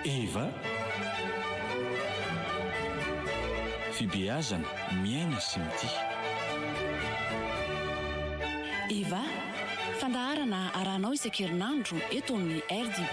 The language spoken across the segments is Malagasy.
Eva, Fibeazana, Miaina sy Mitia. Eva, Fandaharana arahanao isan-kerinandro eto amin'ny RDB.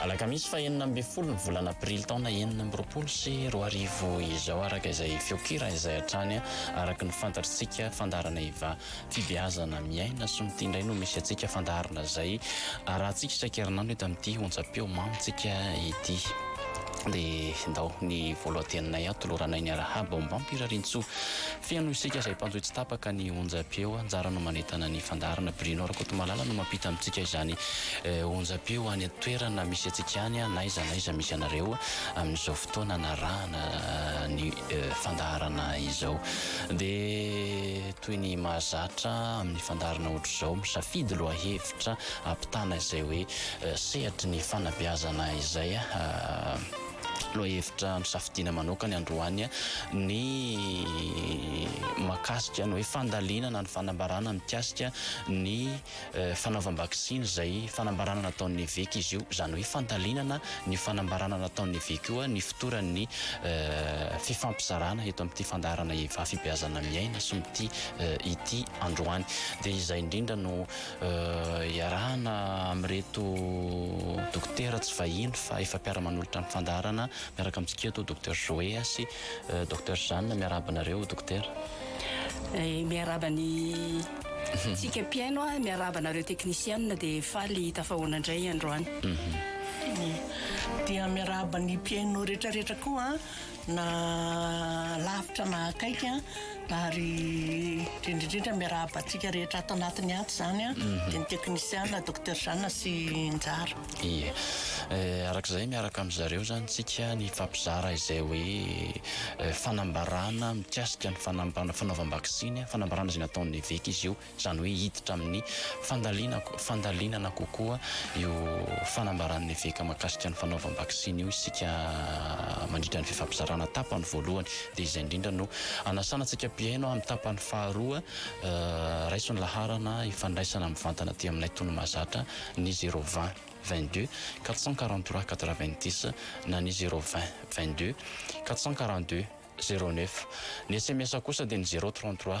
Alakamisy fahenina ambin'ny folo ny volana aprily taona enina amby roapolo sy roa arivo izao araka izay feonkira izay hatrany araka ny fantatrtsika fandaharana eva fibeazana miaina sy mity indray no misy antsika fandaharana izay arahantsika isankerinandro eto amin'ity onjam-peo mamintsika ity dia ndao ny voalohanteninay aho toloranay ny arahaba ombampirarintsoa Feno isika izay mpanjohy tsy tapaka ny onjam-peo, anjara no manentana ny fandaharana. Bruno Rakotomalala no mampita amintsika izany onjam-peo any an-toerana misy antsika any, n'aiza n'aiza misy anareo amin'izao fotoana anarahana ny fandaharana izao. Dia toy ny mahazatra amin'ny fandaharana ohatr'izao, misafidy lohahevitra ampitana izay hoe sehatry ny fanabeazana izay. Lohahevitra nosafidiana manokana androany ny mahakasika ny hoe fandalinana ny fanambarana mikasika ny fanaovam-baksiny izay fanambarana nataon'ny eveka izy io. Izany hoe fandalinana an'io fanambarana nataon'ny eveka io ny fotoran'ny fifampizarana eto amin'ity fandaharana Evafibeazana miaina somy ity ity androany. Dia izay indrindra no Iarahana amin'ireto dokotera tsy vahiny fa efa mpiara-manolotra ny fandaharana miaraka amintsika eto, Docteur Joé sy Docteur Jeanne. Miarahaba anareo dokotera. Miarahaba ny tsika mpihaino, miarahaba anareo teknisiana dia faly tafahoana indray androany. Dia miarahaba ny mpihaino rehetra rehetra koa. Na lavitra na akaiky ary indrindra indrindra miarahaba antsika rehetra ato anatiny ato izany dia ny teknisiana Docteur Jeanne sy Njara. Ie. Araka izay miaraka amin-dry zareo izany isika nifampizara izay hoe fanambarana mikasika ny fanaovana vaksiny, fanambarana izay nataon'ny eveka izy io. izany hoe hiditra amin'ny fandalinako fandalinana kokoa io fanambaran'ny eveka mahakasika ny fanaovam-baksiny io isika mandritra ny fifampizarana tapany voalohany dia izay indrindra no anasana antsika mpihaino amin'ny tapany faharoa raiso ny laharana ifandraisana mivantana aty aminay tony mahazatra ny zéro vingt vingt deux quatre cent quarante trois quatre vingt dix na ny zéro vingt vingt deux quatre cent quarante deux zéro neuf ny sms kosa dia ny zéro trente trois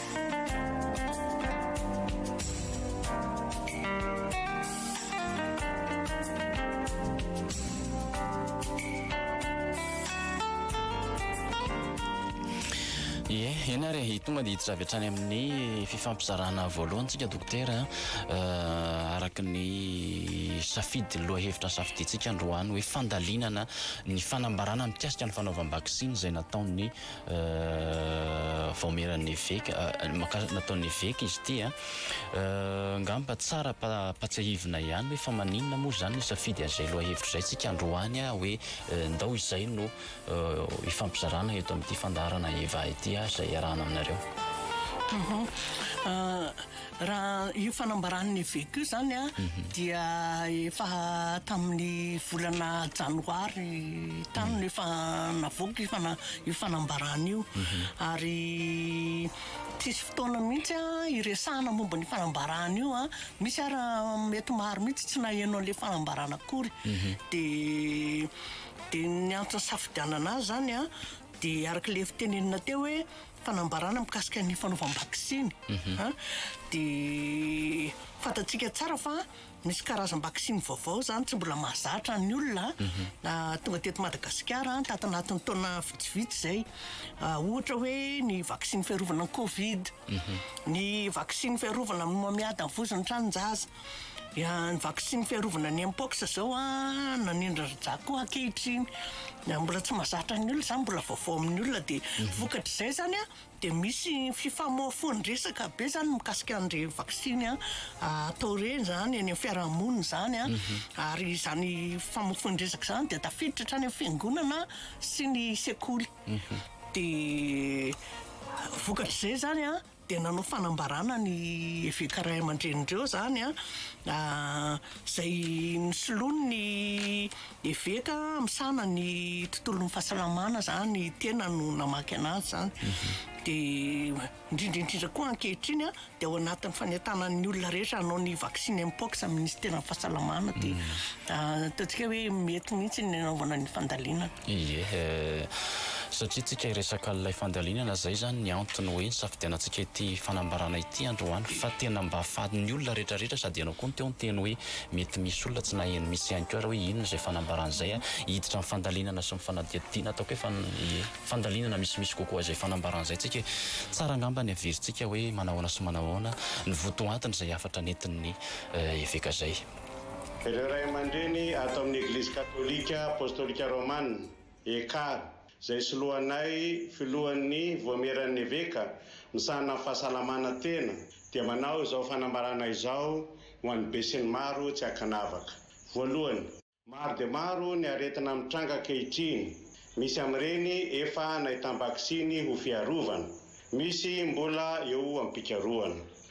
tonga dia hiditra avy hatrany amin'ny fifampizarana voalohantsika dokotera euh, araka ny safidy lohahevitra safidiantsika androany hoe fandalinana ny fanambarana mikasika ny fanaovam-baksiny izay nataon'ny vaomieran'ny eveka makasika nataon'ny eveka izy ity a angamba tsara ampahatsiahivina ihany hoe fa maninona moa izany no safidy an'izay lohahevitra izay tsika androany a hoe ndao izay no hifampizarana eto amin'ity fandaharana Eva ity a izay iarahana aminareo. Raha io fanambaran'ny eveka io izany a, dia efa tamin'ny volana janoary tany no efa navoaka io fana- io fanambarana io. Ary tsisy fotoana mihitsy a, hiresahana momba an'io fanambarana io a. Misy ara mety maro mihitsy tsy naheno an'ilay fanambarana akory. Dia dia ny antony safidianana azy izany a, dia araka ilay efa tenenina teo hoe, Fanambarana mikasika ny fanaovam-baksiny an, dia fantatsika tsara fa misy karazam-baksiny vaovao izany tsy mbola mahazatra ny olona an, tonga teto Madagasikara an, tato anatin'ny taona vitsivitsy izay. Ohatra hoe ny vaksiny fiarovana ny covid, ny vaksiny fiarovana amin'ny homamiadan'ny vozon'ny tranon-jaza, Ya, ny vaksiny fiarovana ny mpox zao an, nanindry rja koa ankehitriny. Mbola tsy mazatra ny olona zany, mbola vaovao amin'ny olona dia mhm. vokatr'izay zany an, dia misy fifamofoan-dresaka be zany mikasika an'ireny vaksiny an, atao ireny zany eny amin'ny fiarahamonina zany an, mhm. ary izany famofoan-dresaka zany dia tafiditra hatrany amin'ny fiangonana sy ny sekoly. Mhm. Dia vokatr'izay zany an. dia nanao fanambarana ny eveka ray aman-drenin'ireo izany an, izay nosoloiny ny eveka misahana ny tontolon'ny fahasalamana izany tena no namaky anazy izany dia indrindra indrindra koa ankehitriny an dia ao anatin'ny fanentanan'ny olona rehetra hanao ny vaksiny mpox amin'ny minisiteran'ny fahasalamana dia ataontsika hoe mety mihitsy ny nanaovana ny fandalinana. Ie, satria tsika hiresaka an'ilay fandalinana izay izany ny antony hoe nisafidianantsika ity fanambarana ity androany fa tena mba fatin'ny olona rehetra rehetra sady ianao koa teo niteny hoe mety misy olona tsy naheno misy ihany koa ary hoe inona izay fanambarana izay hiditra amin'ny fandalinana sy ny fanadihadiana ataoko hoe fan ie fandalinana misimisy kokoa izay fanambarana izay tsika tsara angamba ny haverintsika hoe manao ahoana sy manao ahoana ny votoantony izay hafatra nentin'ny eveka izay Ireo ray aman-dreny ato amin'ny Eglizy Katolika Apostolika Romana, ECAR, izay soloanay filohan'ny Voamieran'ny Eveka misahana ny fahasalamana tena dia manao izao fanambarana izao ho an'ny besinimaro tsy ankanavaka. Voalohany. Maro dia maro ny aretina mitranga ankehitriny. Misy amin'ireny efa nahitam-baksiny ho fiarovana. Misy mbola eo am-pikarohana.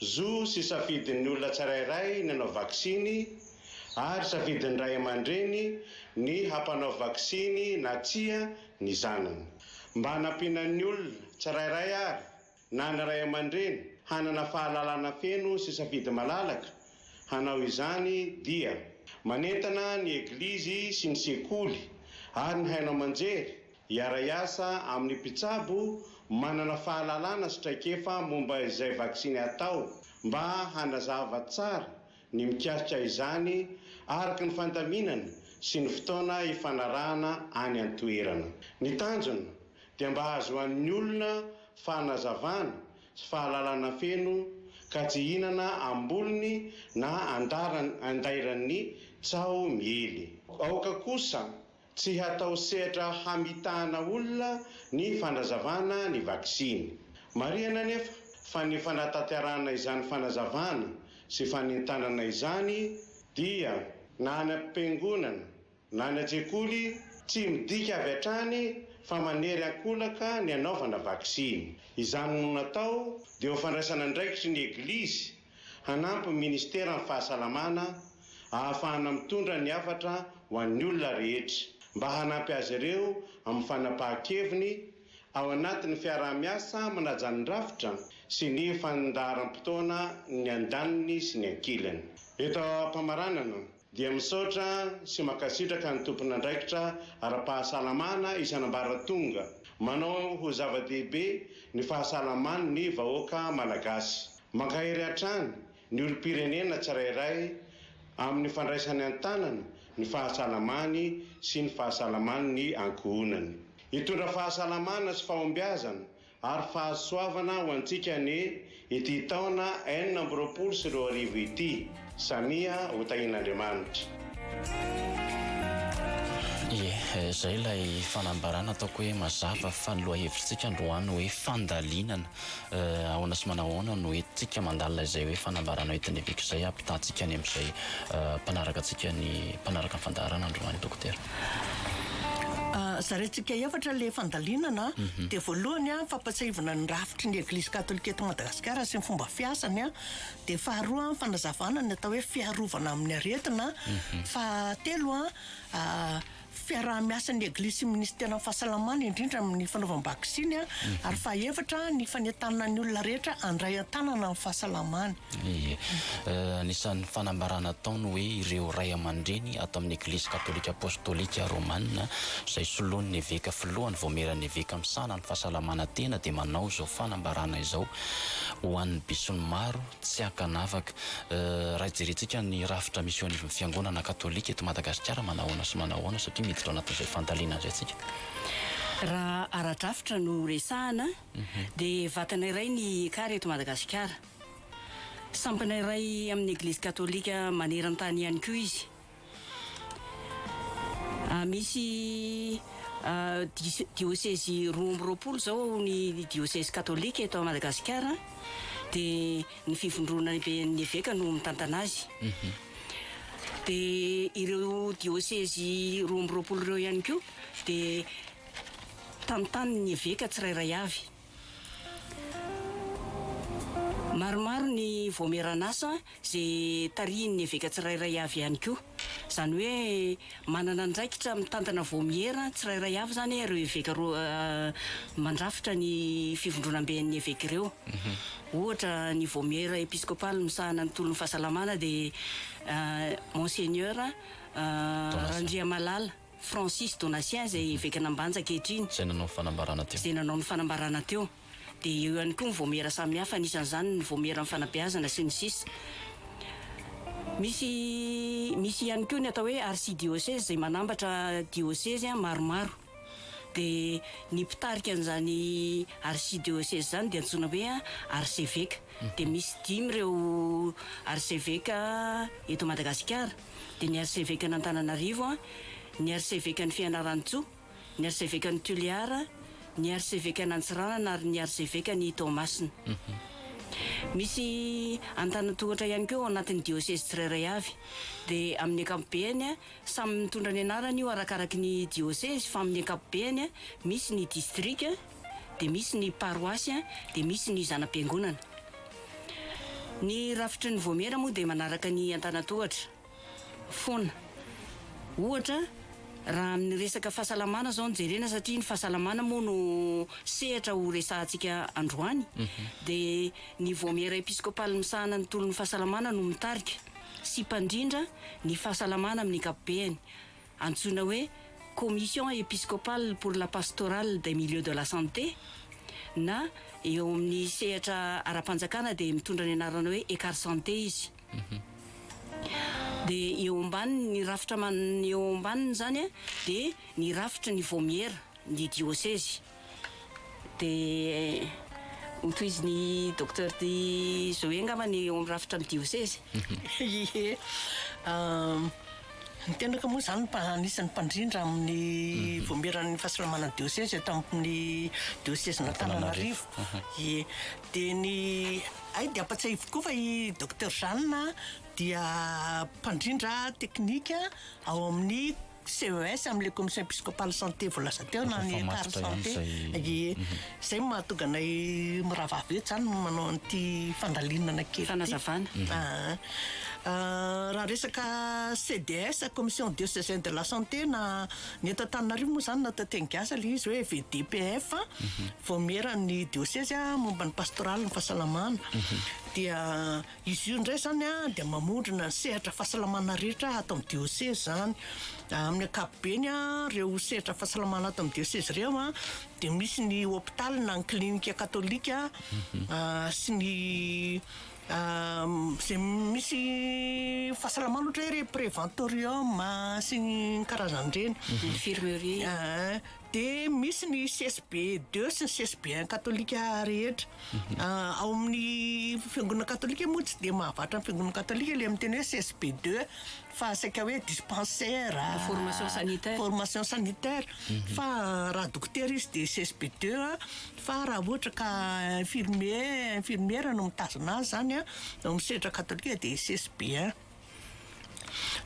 Zo sy safidin'ny olona tsirairay ny hanao vaksiny ary safidin'ny ray aman-dreny ny hampanao vaksiny na tsia ny zanany. Mba hanampiana ny olona tsirairay ary na ny ray aman-dreny hanana fahalalana feno sy safidy malalaka hanao izany dia manentana ny Eglizy sy ny sekoly ary ny haino aman-jery Hiara-hiasa amin'ny mpitsabo manana fahalalana sy traikefa momba izay vaksiny hatao mba hanazava tsara ny mikasika izany araka ny fandaminana sy ny fotoana hifanarahana any an-toerana. Ny tanjona dia mba hahazoan'ny olona fanazavana sy fahalalana feno ka tsy hihinana am-bolony na andairany tsaho miely. Aoka kosa Tsy hatao sehatra hamitahana olona ny fanazavana ny vaksiny. Marihana anefa fa ny fanatanterahana izany fanazavana sy fanentanana izany dia na any am-piangonana na any an-tsekoly tsy midika avy hatrany fa manery an-kolaka ny hanaovana vaksiny. Izany no natao dia ho fandraisana andraikitry ny Eglizy Hanampy ny Ministeran'ny Fahasalamana ahafahana mitondra ny hafatra ho an'ny olona rehetra, mba hanampy azy ireo amin'ny fanapahan-keviny ao anatin'ny fiaraha-miasa manaja ny rafitra sy ny fandaharam-potoana ny andaniny sy ny ankilany. Eto am-pamaranana, Dia misaotra sy mankasitraka ny tompon'andraikitra ara-pahasalamana isan'ambaratonga manao ho zava-dehibe ny fahasalaman ny vahoaka Malagasy. Mankahery hatrany ny olom-pirenena tsirairay amin'ny fandraisany an-tanana ny fahasalamany sy ny fahasalaman ny ankohonany. Hitondra fahasalamana sy fahombiazana ary fahasoavana ho antsika anie ity taona enina amby roapolo sy roa arivo ity, samia ho tahian'Andriamanitra. Ie, izay ilay fanambarana ataoko hoe mazava fa ny lohahevitsika androany hoe fandalinana ahoana sy manao ahoana no entintsika mandalina izay hoe fanambarana hoentin'ny Eveka izay hampitahantsika any amin'izay mpanaraka antsika ny mpanaraka ny fandaharana androany Dokotera. Zaraintsika efatra ilay fandalinana. Dia voalohany, fampahatsiahivana ny rafitry ny Eglizy Katolika eto Madagasikara sy ny fomba fiasany. Dia faharoa, fanazavana ny atao hoe fiarovana amin'ny aretina. Fahatelo, fiaraha-miasan'ny Eglizy sy ny Minisiteran'ny Fahasalamana, indrindra amin'ny fanaovam-baksiny. Ary fahaefatra, ny fanentanana ny olona rehetra handray an-tanana ny fahasalamany. Ie. Anisan'ny fanambarana ataony hoe ireo ray aman-dreny ato amin'ny Eglizy Katolika Apostolika Romana izay solon'ny eveka filohany vaomieran'ny eveka misahana ny fahasalamana tena dia manao izao fanambarana izao ho an'ny besin'ny maro tsy ankanavaka raha jerentsika ny rafitra misy eo anivon'ny fiangonana katolika eto Madagasikara manahoana sy manahoana satria miditra ao anatin'izay fandalina izay tsika. Raha ara-drafitra no resahana dia vatana iray ny ekar eto Madagasikara. Sampana iray amin' ny Eglizy Katôlika maneran-tany ihany koa izy. Misy diosy diôsezy roa amby roapolo izao ao ny diôsezy katôlika eto Madagasikara, dia ny Fivondronana Lehiben' ny Eveka no mitantana azy. Dia ireo diôsezy roa amby roapolo ireo ihany koa dia tantanin' ny eveka tsirairay avy. Maromaro ny vaomieran'asa izay tarihin'ny eveka tsirairay avy ihany koa. Izany hoe manana andraikitra mitantana vaomiera tsirairay avy izany ireo eveka roa mandrafitra ny fivondronamben'ny eveka ireo. Ohatra, ny vaomiera episkopaly misahana ny tolon'ny fahasalamana dia Monseigneur Randriamalala. Francis Donatien izay evekan'Ambanja ankehitriny, izay nanao ny fanambarana teo. izay nanao ny fanambarana teo, dia eo ihany koa ny vaomiera samihafa, anisan'izany ny vaomieran'ny fanabeazana, sy ny sisa Misy, misy ihany koa ny atao hoe archidiocèse izay manambatra diosezy maromaro. Dia ny mpitarika an'izany archidiocèse izany dia antsoina hoe arseveka. Dia misy dimy ireo arseveka eto Madagasikara. dia ny Arsevekan'Antananarivo, ny Arsevekan'i Fianarantsoa, ny Arsevekan'i Toliara, ny Arsevekan'Antsiranana ary ny Arsevekan'i Toamasina. Misy Antanan-tohatra ihany koa ao anatin'ny diôsezy tsirairay avy. Dia amin'ny ankapobeny, samy mitondra ny anarany io arakaraky ny diôsezy fa amin'ny ankapobeny misy ny distrika, dia misy ny paroasy, dia misy ny zana-piangonana. Ny rafitry ny Vaomiera moa dia manaraka ny antanan-tohatra foana. Ohatra, raha amin'ny resaka fahasalamana izao no jerena, satria ny fahasalamana moa no sehatra ho resahantsika androany, mhm. dia ny Vaomiera episkopaly misahana ny tolon'ny fahasalamana no mitarika sy mpandrindra ny fahasalamana amin'ny ankapobeny. antsoina hoe Commission Episcopale pour la Pastorale des Milieux de la Santé na eo amin'ny sehatra ara-panjakana dia mitondra ny anarana hoe Ecarsanté izy. Dia eo ambaniny, ny rafitra eo ambaniny izany dia ny rafitry ny Vaomiera, ny Diosezy. dia hotohizin'i Docteur Di Zoé angamba ny eo amin'ny rafitra ny diosezy. Ie. Ny tenako moa izany mba anisan'ny mpandrindra amin'ny mhm. voamieran'ny fahasalamana ny diosezy eto amin'ny diosezin'Antananarivo. Ie. Dia ny ay dia ampatsahiviko koa fa i Docteur Jeanne dia mpandrindra teknika ao amin'ny CES amin'ilay Commission Episcopale Santé voalaza teo na ny Car Santé. Ie. Izay no mahatonga anay mirahavavy eto izany no manao an'ity fandalinana kely ity. Fanazavana. Aa raha resaka CDS, Commission Diocesaine de la Santé, na ny eto Antananarivo moa izany na teny gasy ilay izy hoe VDPF, Vaomieran'ny Diosezy momba ny Pastoraly ny Fahasalamana, dia. Izy io indray izany dia mamondrona ny sehatra fahasalamana rehetra ato amin'ny diosezy izany. Amin'ny ankapobeny, ireo sehatra fahasalamana ato amin'ny diosezy ireo dia misy ny hopitaly na ny klinika katolika mhm. ah, sy ny ah, izay misy fahasalamana ohatra hoe preventorium ah, sy ny karazan'ireny. Infirmerie. dia misy ny CSB deux sy ny CSB un katolika rehetra. Ao amin'ny fiangonana katolika moa tsy dia mahavatra ny fiangonana katolika ilay miteny hoe CSB deux fa saika hoe dispensaire, Formation sanitaire. formation sanitaire. Fa raha dokotera izy dia CSB deux an. Fa raha ohatra ka infirmier, infirmiera no mitazona azy izany an, ao amin'ny sehatra katolika dia CSB un.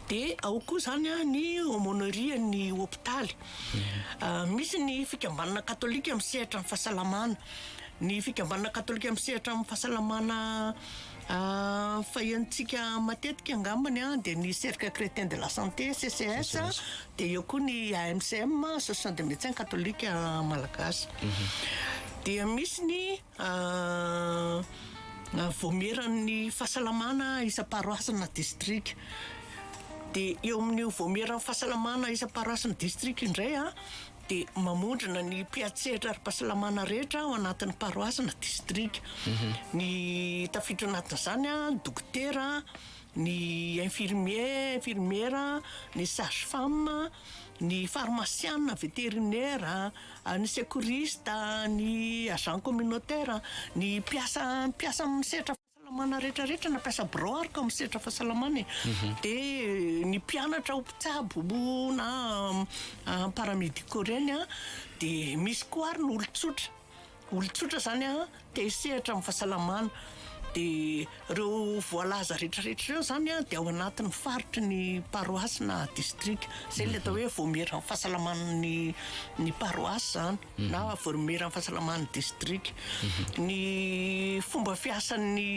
Dia ao koa izany an, ny aumônerie an'ny hopitaly. Misy ny fikambanana katolika misehatra amin'ny fahasalamana. Ny fikambanana katolika misehatra amin'ny fahasalamana fahiantsika matetika angambany an, dia ny cercle chrétien de la santé, CCS, dia eo koa ny AMCM, association des médecins catholiques malagasy. Dia misy ny. Raha vaomieran'ny fahasalamana isam-paroasy na distrika dia eo amin'io vaomieran'ny fahasalamana isam-paroasy na distrika io indray dia mamondrona ny mpiantsehatra ara-pahasalamana rehetra ao anatin'ny paroasy na distrika, ny tafiditra ao anatin'izany ny dokotera, ny infirmier, infirmiera, ny sage femme, ny farmasiana, veterinera. ny secouriste, ny agent communautaire, ny mpiasa mpiasa amin'ny sehatra fahasalamana rehetra rehetra na mpiasa birao ary ka amin'ny sehatra fahasalamana e, dia ny mpianatra ho mpitsabo na paramédicaux ireny an, dia misy koa ary ny olon-tsotra, olon-tsotra izany an. Te hisehatra amin'ny fahasalamana dia ireo voalaza rehetrarehetra ireo izany dia ao anatin'ny faritry ny paroasy na distrika. Izay ilay atao hoe vaomieran'ny fahasalaman'ny ny paroasy izany mhm. na vaomieran'ny fahasalaman'ny distrika. Mhm. Ny fomba fiasan'ny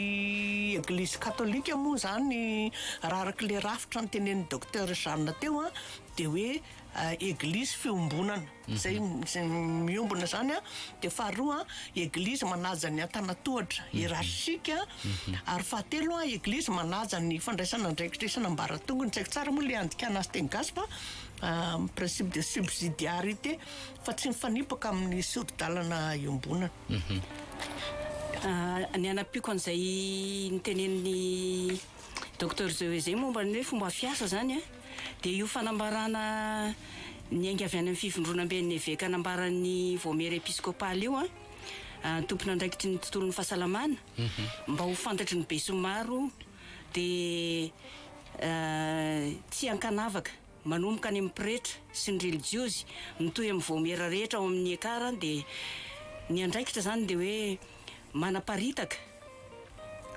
Eglizy Katolika moa izany raha araka ilay rafitra ny tenenin'ny Docteur Jeanne teo dia hoe eh, Eglizy fiombonana. Izay miombona izany an, dia faharoa an, eglizy manaja ny antanatohatra, hiérarchique, ary fahatelo an, eglizy manaja ny fandraisana andraikitra isan'ambaratongony, tsy haiko tsara moa ilay andikana azy teny gasy fa principe de subsidiarité, fa tsy mifanipaka amin'ny sori-dalana iombonana. Ny hanampiako an'izay notenenin'i Docteur Zeuwe izay momba ny hoe fomba fiasa izany an, Dia io fanambarana niainga avy any amin'ny fivondronamben'ny eveka nambaran'ny Vaomiera Episkopaly io an, tompon'andraikitry ny tontolon'ny fahasalamana, mhm. mba ho fantatry ny besinimaro dia tsy ankanavaka manomboka any amin'ny pretra sy ny relijiozy mitohy amin'ny vaomiera rehetra ao amin'ny ekar dia ny andraikitra izany dia hoe manaparitaka,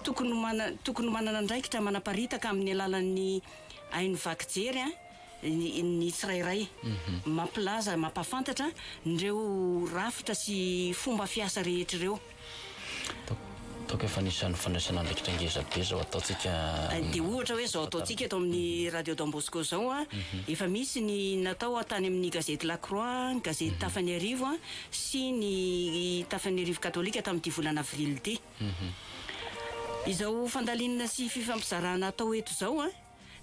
tokony ho mana, tokony ho manana andraikitra manaparitaka amin'ny alalan'ny haino vaky jery ny, ny tsirairay. Mampilaza, mampahafantatra an'ireo rafitra sy fomba fiasa rehetra ireo. Toaka efa anisan'ny fandraisana andraikitra ngeza be izao ataontsika. Dia ohatra hoe izao ataontsika eto amin'ny Radio Don Bosco izao an, efa misy ny natao tany amin'ny gazety La Croix, ny gazety Tafa ny Arivo an, sy ny Tafian'Iarivo Katolika tamin'ity volana avrily ity. Izao fandalinana sy fifampizarana atao eto izao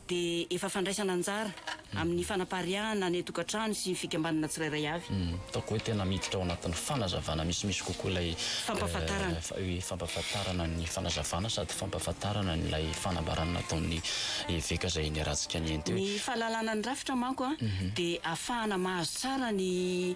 dia efa fandraisana anjara amin'ny fanapariahana ny tokantrano sy ny fikambanana tsirairay avy. Ataoko hoe tena miditra ao anatin'ny fanazavana misimisy kokoa ilay fampahafantarana. Fampahafantarana ny fanazavana sady fampahafantarana an'ilay fanambarana nataon'ny eveka izay niharantsika nihaino teo. Ny fahalalana ny rafitra manko dia ahafahana mahazo tsara ny.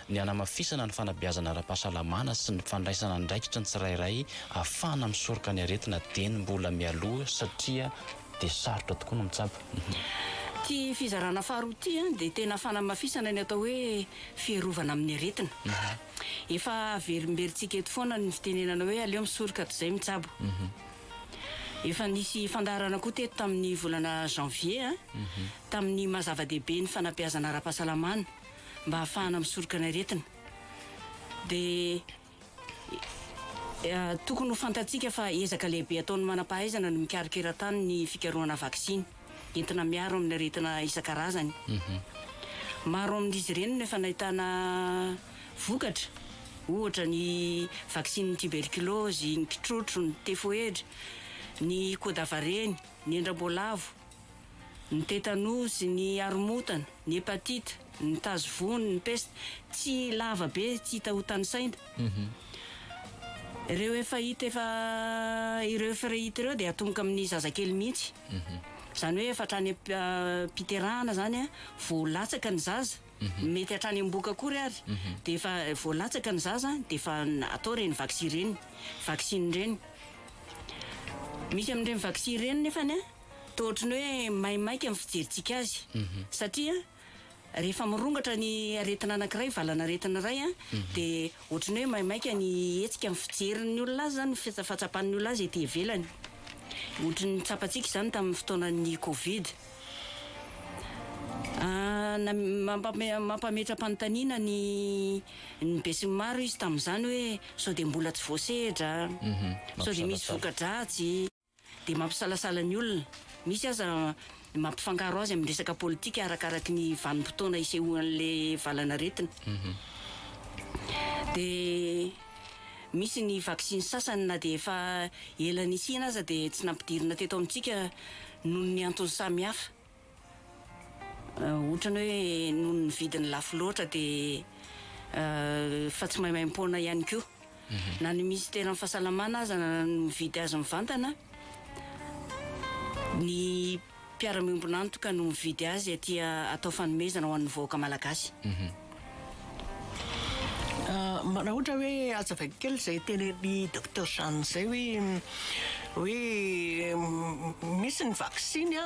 ny hanamafisana ny fanabeazana ara-pahasalamana sy ny fandraisana andraikitra ny tsirairay ahafahana misoroka ny aretina dieny mbola mialoha satria dia sarotra tokoa ny mitsabo. Ity fizarana faharoa ity dia tena fanamafisana ny atao hoe fiarovana amin'ny aretina. Efa averimberintsika eto foana ny fitenenana hoe aleo misoroka toy izay mitsabo. Efa nisy fandaharana koa teto tamin'ny volana janvier tamin'ny maha zava-dehibe ny fanabeazana ara-pahasalamana. mba hahafahana misoroka ny aretina. Dia tokony ho fantatsika fa ezaka lehibe ataon'ny manam-pahaizana ny mikarakira tany ny fikarohana vaksiny entina miaro amin'ny aretina isan-karazany. Maro amin'izy ireny no efa nahitana vokatra, ohatra ny vaksinin'ny tiberkilaozy, ny kitrotro, ny tefoedra, ny kodavareny, ny endram-boalavo. ny tetanozy, ny aromotana, ny hepatite, ny tazo vony, ny peste, tsy lava be, tsy hita ho tanisaina. Ireo efa hita efa ireo efa hita ireo dia atomboka amin'ny zazakely mihitsy. Izany hoe efa hatrany am-piterahana izany a, vao latsaka ny zaza, mety hatrany am-bohoka akory ary, dia efa vao latsaka ny zaza dia efa atao ireny vaksy ireny, vaksiny ireny. Misy amin'ireny vaksy ireny nefany a. toa ohatran'ny hoe maimaika ny fijerintsika azy satria rehefa mirongatra ny aretina anankiray, valanaretina iray an, dia ohatran'ny hoe maimaika ny hetsika ny fijerin'ny olona azy izany, ny fahatsapan'ny olona azy ety ivelany. Ohatry ny tsapantsika izany tamin'ny fotoanan'ny covid. Mampametra-panontaniana ny ny besinimaro izy tamin'izany hoe sao dia mbola tsy voasehatra? Sao dia misy voka-dratsy? dia mampisalasala ny olona, misy aza mampifangaro azy amin'ny resaka politika arakaraky ny vanim-potoana isehoan'ilay valan'aretina. Dia misy ny vaksiny sasany na dia efa ela nisiana aza dia tsy nampidirina teto amintsika noho ny antony samihafa. Otrany hoe noho ny vidiny lafo loatra dia efa tsy maimaimpoana ihany koa. Mhm. Na ny minisiteran'ny fahasalamana aza no mividy azy mivantana, ny mpiara-miombon'antoka no mividy azy aty atao fanomezana ho an'ny vahoaka malagasy. Mhm. Raha ohatra hoe azavaiko kely izay tenenin'i Docteur Jeanne izay hoe hoe misy ny vaksiny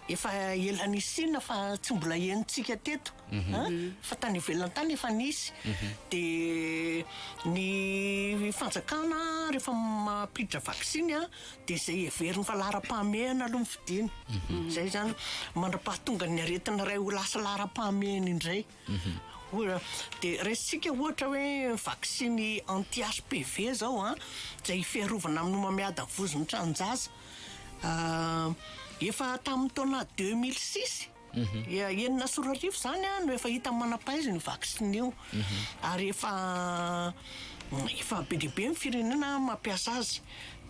efa ela nisiana fa tsy mbola henontsika teto mhm. fa tany ivelany tany efa nisy mhm. dia ny fanjakana rehefa mampiditra vaksiny Dia izay heveriny fa laharam-pahamehana aloha no fidiny. Izay izany mandra-pahatongan'ny aretina iray ho lasa laharam-pahamehana indray. Ohatra, dia raisintsika ohatra hoe vaksiny anti-HPV izao an, izay fiarovana amin'ny homamiadan'ny vozon'ny tranon-jaza. Efa tamin'ny taona deux mille six. Enina sy roa arivo izany no efa hita manam-pahaizana io vaksiny io, ary efa efa be dia be ny firenena mampiasa azy.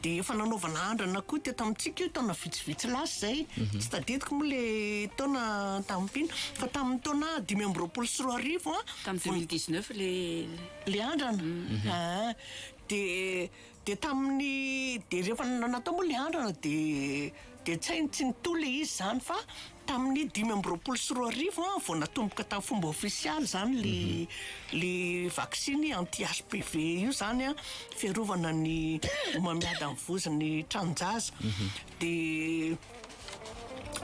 Dia efa nanaovana andrana koa teto amintsika io taona vitsivitsy lasa izay, tsy tadidiko moa ilay taona tamin'mpino, fa tamin'ny taona dimy amby roapolo sy roa arivo, tamin'ny deux mille dix neuf ilay ilay andrana, aa dia. Dia tamin'ny dia rehefa natao moa ilay andrana dia dia tsy hainy tsy nitohy ilay izy izany fa tamin'ny dimy amby roapolo sy roa arivo an vao natomboka tamin'ny fomba ofisialy izany le mhm. le vaksiny anti HPV io izany an fiarovana ny homamiada amin'ny vozon'ny tranonjaza mhm. dia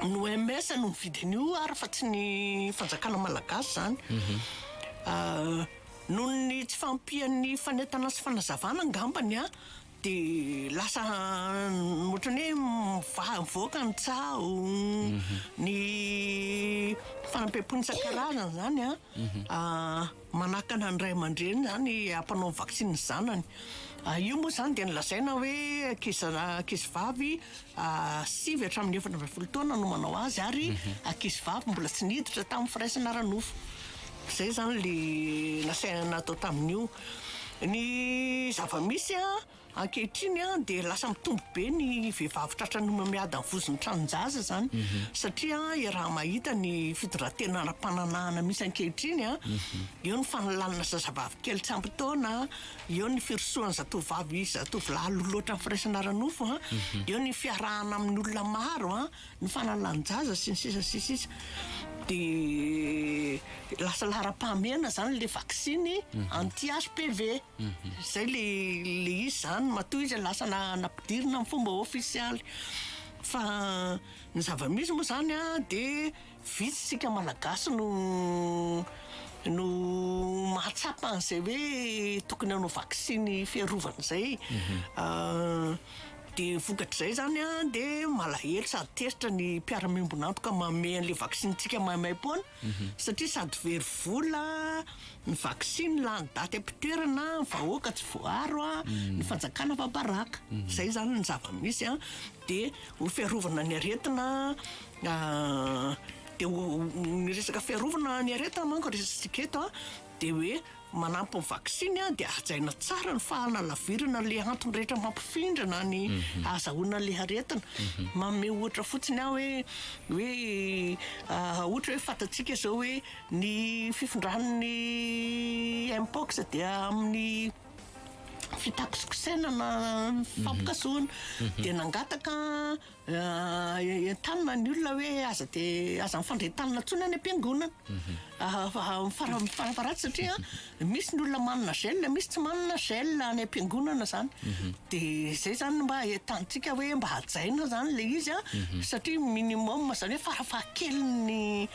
ny OMS no mividy an'io ary fa tsy ny fanjakana malagasy izany mhm. ah, Noho ny tsy fahampian'ny fanentana sy fanazavana angambany dia lasa ohatran'ny hoe mivoaka ny tsaho, ny fanampiam-pony isan-karazany izany manakana ny ray aman-dreny izany hampanao ny vaksiny ny zanany. Io moa izany dia nolazaina hoe ankizy vavy sivy hatramin'ny efatra ambin'ny folo taona no manao azy ary ankizivavy mbola tsy niditra tamin'ny firaisana ara-nofo. Izay izany le nasaina natao tamin'io. Ny zava-misy a, ankehitriny a dia lasa mitombo be ny vehivavy tratran'ny homamiadan'ny vozon'ny tranon-jaza izany mhm. satria raha mahita ny fitondran-tena ara-pananahana misy ankehitriny a, mhm. eo ny fanalanana zazavavy kely tsy ampy taona, Eo ny firosoan'ny zatovovavy sy zatovolahy lolo loatra amin'ny firaisana ara-nofo an, eo ny fiarahana amin'ny olona maro an, ny fanalàn-jaza sy ny sisa sy ny sisa. Dia lasa laharam-pahamehana izany ilay vaksiny anti HPV. Izay ilay ilay izy izany matoa izy lasa na- nampidirina amin'ny fomba ofisialy. Fa ny zava-misy moa izany an dia. Vitsy tsika malagasy no no mahatsapa an'izay hoe tokony hanao vaksiny fiarovana izay de vokatr'izay zany a de malahelo sady tezitra ny mpiara-miombon'antoka manome an'ilay vaksintsika maimaim-poana mhm. satria sady very vola ny vaksiny lany daty am-pitoerana vahoaka tsy voaro a mhm. ny fanjakana fa baraka mhm. zay zany ny zava-misy a de ho fiarovana ny aretina Dia ny resaka fiarovana ny aretina manko resatsika eto dia hoe manampy ny vaksiny dia hajaina tsara ny fahanalavirana an'ilay antony rehetra mampifindrana ny mhm. ahazahoana ilay aretina. Mhm. Manome ohatra fotsiny aho hoe hoe ah, ohatra hoe fantatsika izao hoe ny fifindran'ny mpox dia amin'ny fitakosikosenana mhm. fampikasoana dia nangataka entanina ny olona hoe aza dia aza mifandray tanana intsony any am-piangonana. Mhm. Farafaharatsy satria misy ny olona manana gel, misy tsy manana gel any am-piangonana izany. Mhm. Dia izay izany mba entantsika hoe mba hajaina izany ilay izy mhm. satria minimum izany hoe farafahakeliny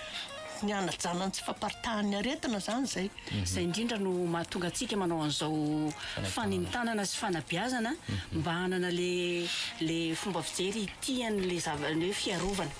ny hanajana ny tsy faparitahan'ny aretina izany izay. Izay indrindra no mahatonga antsika manao an'izao fanintanana sy fanabeazana mba hanana le fomba fijery itian'le zava, ny hoe fiarovana.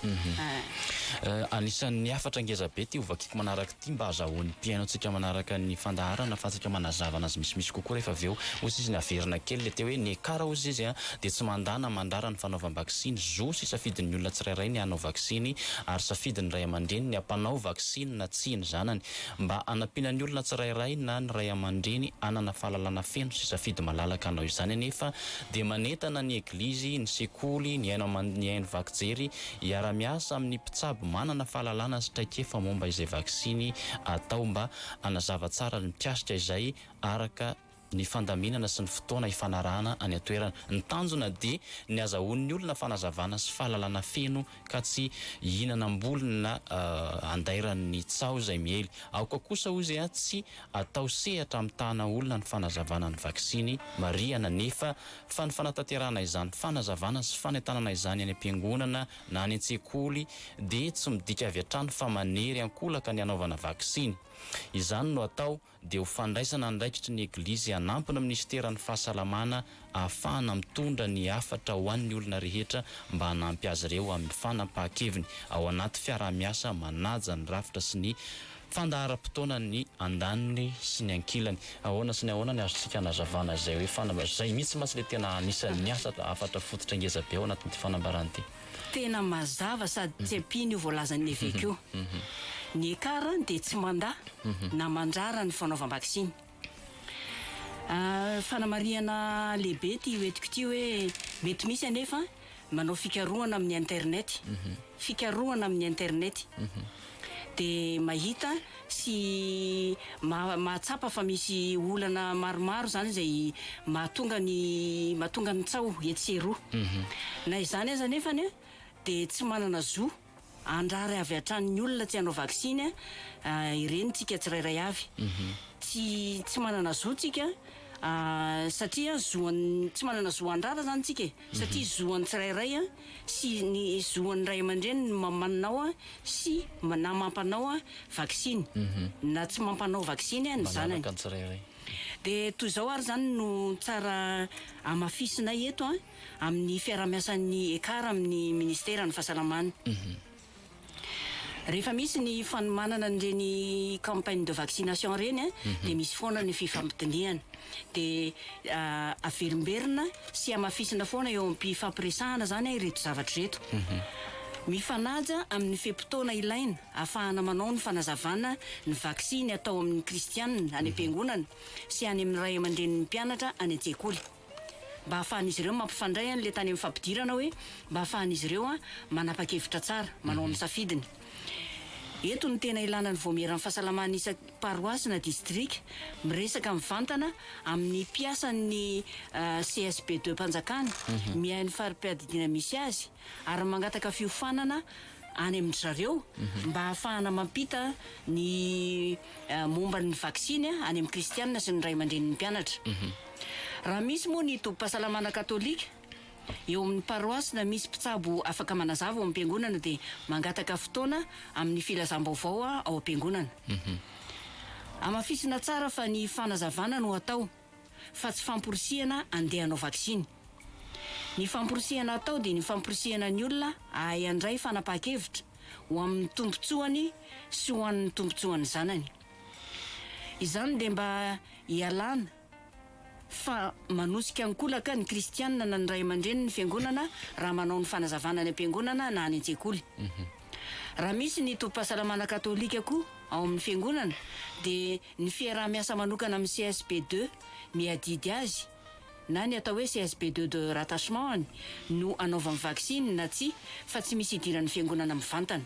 Anisan'ny hafatra ngeza be ity hovakiko manaraka ity mba hazahoan'ny mpihainoantsika manaraka ny fandaharana ahafahantsika manazava anazy misimisy kokoa rehefa avy eo. Hoy sisa ny haverina kely le teo hoe ny ekara hoy sisa e a! dia tsy mandà na mandrara ny fanaovam-baksiny. Zo sy safidin'ny olona tsirairay ny hanao vaksiny, ary safidin'ny ray aman-dreny ny hampanao vaksiny na tsia ny zanany. Mba hanampiana ny olona tsirairay na ny ray aman-dreny hanana fahalalana feno sy safidy malalaka hanao izany anefa, dia manentana ny Eglizy, ny sekoly, ny haino aman, ny haino vaky jery hiara-miasa amin'ny mpitsabo manana fahalalana sy traikefa momba izay vaksiny atao mba hanazava tsara ny mikasika izay araka ny fandaminana sy ny fotoana hifanarahana any an-toerana. Ny tanjona dia ny azahoan'ny olona fanazavana sy fahalalana feno ka tsy hihinanam-bolona andairan'ny tsaho izay miely. Aoka kosa hoy izy tsy atao sehatra hamitahana olona ny fanazavana ny vaksiny. Marihana anefa fa ny fanatanterahana izany fanazavana sy fanentanana izany any am-piangonana na any an-tsekoly dia tsy midika avy hatrany fa manery an-kolaka ny hanaovana vaksiny. Izany no atao dia ho fandraisana andraikitry ny Eglizy hanampy ny minisiteran'ny Fahasalamana ahafahana mitondra ny hafatra ho an'ny olona rehetra mba hanampy azy ireo amin'ny fanapahan-keviny ao anaty fiaraha-miasa manaja ny rafitra sy ny fandaharam-potoana ny andaniny sy ny ankilany. Ahoana sy ny ahoana ny azontsika anazavana izay hoe fanambara? Izay mihitsy mantsy ilay tena anisan'ny asa hafatra fototra ngeza be ao anatin'ity fanambarana ity. Tena mazava sady tsy ampiana io voalazan'ny eveka io. Ny ECAR dia tsy mandà na mandrara ny fanaovam-baksiny. Fanamarihana lehibe ity hoentiko ity hoe mety misy anefa manao fikarohana amin'ny Internet. Fikarohana amin'ny Internet. dia mahita sy mahatsapa fa misy olana maromaro izany izay mahatonga ny mahatonga ny tsaho etsy sy eroa. Na izany aza anefany dia tsy manana zo handrara avy hatrany ny olona tsy hanao vaksiny ireny tsika tsirairay avy. Tsy tsy manana zo tsika satria zo tsy manana zo handrara izany tsika e! Satria zo an'ny tsirairay sy ny zo an'ny ray aman-dreny ny mamanao sy na mampanao vaksiny na tsy mampanao vaksiny ny zanany. Dia toy izao ary izany no tsara hamafisinay eto amin'ny fiaraha-miasan'ny ECAR amin'ny Ministeran'ny Fahasalamana. Rehefa misy ny fanomanana an'ireny campagne de vaccination ireny dia misy foana ny fifampidinihana. Dia averimberina sy hamafisina foana eo am-pifampiresahana izany ireto zavatra ireto. Mifanaja amin'ny fe-potoana ilaina hahafahana manao ny fanazavana ny vaksiny atao amin'ny kristianina any am-piangonana sy any amin'ny ray aman-drenin'ny mpianatra any an-tsekoly. mba hahafahan'izy ireo mampifandray an ilay tany amin'ny fampidirana hoe mba hahafahan'izy ireo an manapa-kevitra tsara, manao amin'ny safidiny. Eto no tena ilana ny vaomieran'ny fahasalamana isan paroasy na distrika miresaka mivantana amin'ny mpiasan'ny CSBD-Mpanjakana miahy ny fari-piadidiana misy azy, ary mangataka fiofanana any amin-dry zareo mba hahafahana mampita ny momba ny vaksiny any amin'ny kristianina sy ny ray aman-drenin'ny mpianatra. Raha misy moa ny tobim-pahasalamana katolika eo amin'ny paroasy na misy mpitsabo afaka manazava ao amin'ny mpiangonana dia mangataka fotoana amin'ny filazam-baovao ao am-piangonana. Hamafisina tsara fa ny fanazavana no atao. fa tsy famporisihana andeha hanao vaksiny. Ny famporisihana atao dia ny famporisihana ny olona hahay handray fanapahan-kevitra ho amin'ny tombontsoany sy ho an'ny tombontsoan'ny zanany. Izany dia mba hialana fa manosika ankolaka ny kristiana na ny ray aman-drenin'ny fiangonana raha manao ny fanazavana any am-piangonana na any an-tsekoly. Raha misy ny tobim-pahasalamana katolika koa ao amin'ny fiangonana dia Ny fiaraha-miasa manokana amin'ny CSB de miadidy azy na ny atao hoe CSB de de rattachement-ny no anaovany vaksiny na tsia fa tsy misy idiran'ny fiangonana mivantana.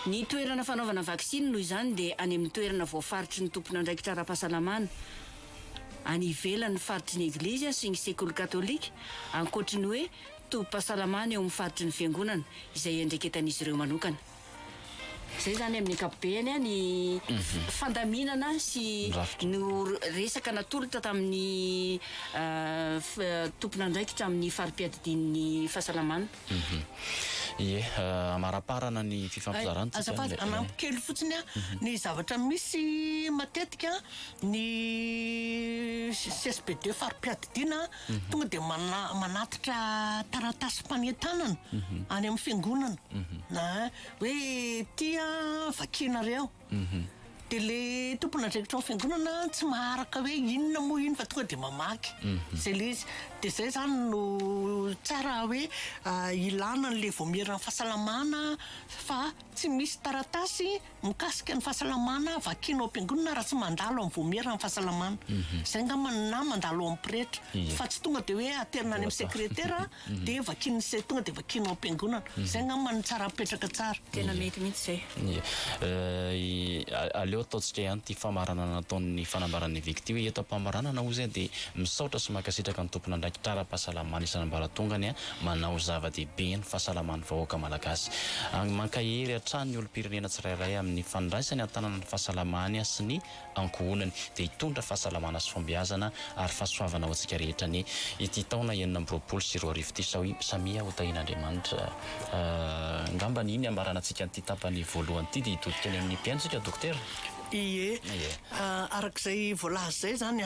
Ny toerana fanaovana vaksiny noho izany dia any amin'ny toerana voafaritry ny tompon'andraikitra ara-pahasalamana any ivelan'ny faritry ny Eglizy sy ny sekoly katolika ankoatry ny hoe tobim-pahasalamana eo amin'ny faritry ny fiangonana izay iandraiketan'izy ireo manokana. Izay izany amin'ny ankapobeny ny fandaminana sy ny resaka natolotra tamin'ny tompon'andraikitra amin'ny fari-piadidian'ny fahasalamana. Ie, amaraparana ny fifampizarantsika. Azafady, hanampy kely fotsiny aho. Ny zavatra misy matetika, ny CSPD fari-piadidiana, tonga dia mana- manatitra taratasim-panentanana any amin'ny fiangonana na hoe ity a vakianareo dia le tompon'andraikitra ao amin'ny fiangonana tsy maharaka hoe inona moa iny fa tonga dia mamaky izay le izy dia izay izany no tsara hoe ah, ilana an'ilay vaomieran'ny fahasalamana fa tsy misy taratasy Mikasika ny fahasalamana, vakina ao am-piangonana raha tsy mandalo amin'ny voamieran'ny fahasalamana. Izay angamba no na mandalo ao amin'ny pretra. Iya. Fa tsy tonga dia hoe aterina any amin'ny Voatao. sekretera dia vakin'ny se- tonga dia vakina ao am-piangonana. Izay angamba no tsara apetraka tsara. Tena mety mihitsy izay. Iya. Eh, i- a- aleo ataontsika ihany ity famaranana nataon'ny fanambaran'ny eveka ity hoe eto am-pamaranana hoy izay dia misaotra sy mankasitraka ny tompon'andraikitra ara-pahasalamana isan'ambaratongany an, manao zava-dehibe ny fahasalaman'ny vahoaka malagasy. Mankahery hatrany ny olom-pirenena tsirairay amin'ny fandraisany an-tanana ny fahasalamany sy ny ankohonany dia hitondra fahasalamana sy fahombiazana ary fahasoavana ho antsika rehetra ny ity taona enina amby roapolo sy roa arivo ity sao i samia ho tahin'Andriamanitra ngambany iny hamaranantsika an'ity tapany voalohany ity dia hitodika any amin'ny mpihaino isika dokotera Ie, arak'izay voalaza izay izany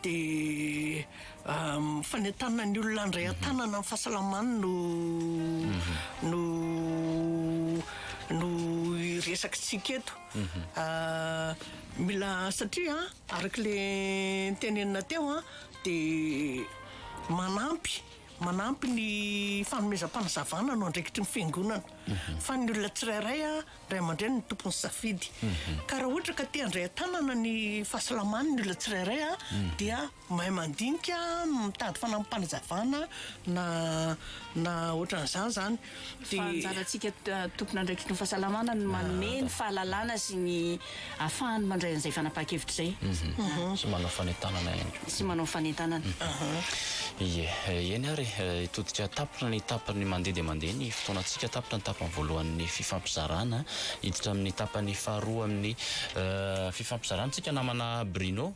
dia. Fanentanana ny olona handray an-tanana amin'ny fahasalamany no no no resakintsika eto. Mila satria araka le tenenina teo a dia manampy manampy ny fanomezam-panazavana no andraikitry ny fiangonana fa ny olona tsirairay a ray aman-dreny no tompon'ny safidy ka raha ohatra ka te handray an-tanana ny fahasalamany ny olona tsirairay a dia Mahay mandinika no mitady fanampim-panazavana na na ohatran'izany zany de. Fa anjarantsika tompon'andraikitry ny fahasalamana ny manome ny fahalalana sy ny ahafahany mandray an'izay fanapahan-kevitra izay. Sy manao fanentanana ihany koa. Sy manao fanentanana. Ie. Eny ary e, hitodika tapitra ny tapany mandeha dia mandeha ny fotoanantsika. Tapitra ny tapany voalohan'ny fifampizarana, hiditra amin'ny tapany faharoa amin'ny fifampizarantsika namana Bruno.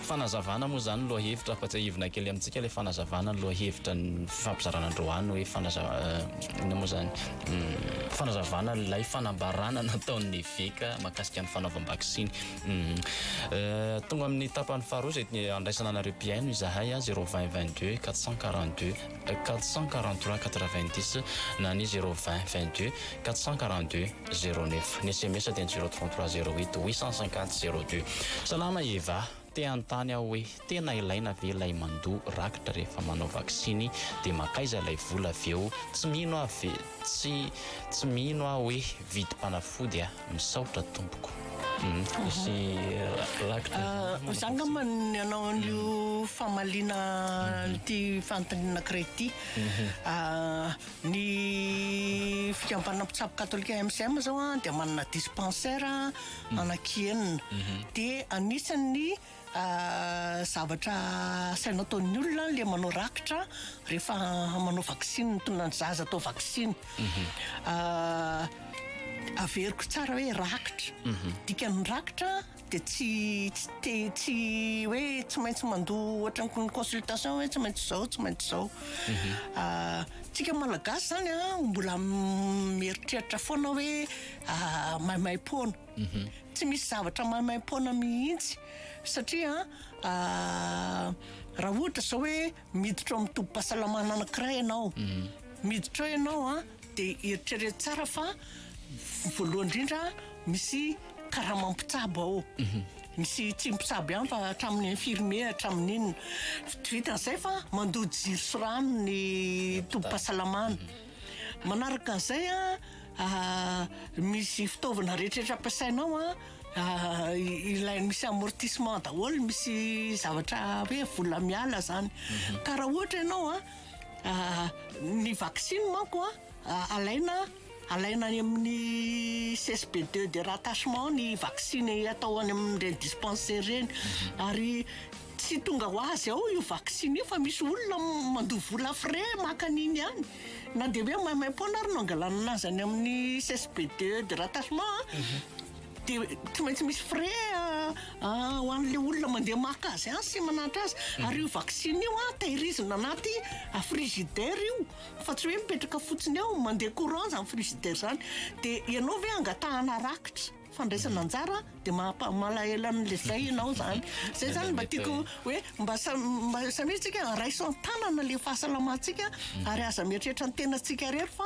Fanazavana moa izany lohahevitra fa tsiahivina kely amintsika ilay fanazavana ny lohahevitra ny fifampizarana androany hoe fanaza inona moa izany fanazavana ilay fanambarana nataon'ny eveka mahakasika ny fanaovam-baksiny tonga amin'ny tapany faharoa izay handraisana anareo mpihaino izahay a zero vingt vingt deux quatre cent quarante deux quatre cent quarante trois quatre vingt dix na ny zero vingt vingt deux quatre cent quarante deux zéro neuf. Ny sms dia ny zéro trente trois zéro huit huit cent cinquante zéro deux. Salama Eva, te hanontany aho hoe tena ilaina ve ilay mandoa rakitra rehefa manao vaksiny dia makaiza ilay vola avy eo, tsy mino aho ve tsy tsy mino aho hoe vidim-panafody a! misaotra tompoko. Misy rakitra izany. Za angamba ny hanao an'io famaliana an'ity fanontaniana anankiray ity. Ny fikambanana mpitsabo katolika MCM izao an, dia manana dispensaire anaky enina. Dia anisan'ny zavatra asaina ataon'ny olona ilay manao rakitra rehefa manao vaksiny, mitonona ny zaza atao vaksiny. Averiko tsara hoe rakitra. Dikan'ny rakitra. Dia tsy tsy tsy hoe tsy maintsy mandoa ohatran'ny ny consultation hoe tsy maintsy izao, tsy maintsy izao. Mhm. Ah, tsika malagasy zany a, ah, mbola mieritreritra foana hoe ah, maimaim-poana. Mhm. Tsy misy zavatra maimaim-poana mihitsy satria ah, raha ohatra izao hoe Miditra ao amin'ny tobim-pahasalamana anankiray ianao, miditra ao ianao a, dia eritrereto tsara fa voalohany indrindra misy karama mpitsabo ao, misy tsy mpitsabo ihany fa hatramin'ny infirmier, hatramin'ny inona, vitan'izay fa mandoa jiro sy rano ny tobim-pahasalamana, manaraka an'izay a misy fitaovana rehetra rehetra ampiasainao a. Ilay misy amortissement daholo, misy zavatra hoe vola miala zany. Mhm. Ka raha ohatra ianao a, ah, ny vaksiny manko a, ah, alaina alaina any amin'ny CSP2 de rattachement ny vaksiny atao any amin'ireny dispensaire ireny. Mhm. Ary tsy tonga ho azy ao io vaksiny io fa misy olona mandoa vola frais maka an'iny ihany. Na dia hoe maimaim-poana ary no angalanana azy any amin'ny CSBD de rattachement an, dia tsy maintsy misy frais ho an'ilay olona mandeha maka azy any sy mananatra azy. Ary io vaksiny io an, tehirizina anaty frigidaire io, fa tsy hoe mipetraka fotsiny eo, mandeha courant izany frigidaire izany. Dia ianao ve angatahana rakitra? fandraisana anjara dia maha malahelo anle zay ianao zany zay zany mba tiako hoe mba samia tsika raiso antanana le fahasalamantsika mhm. ary aza mieritreritra ny tena tsika rery fa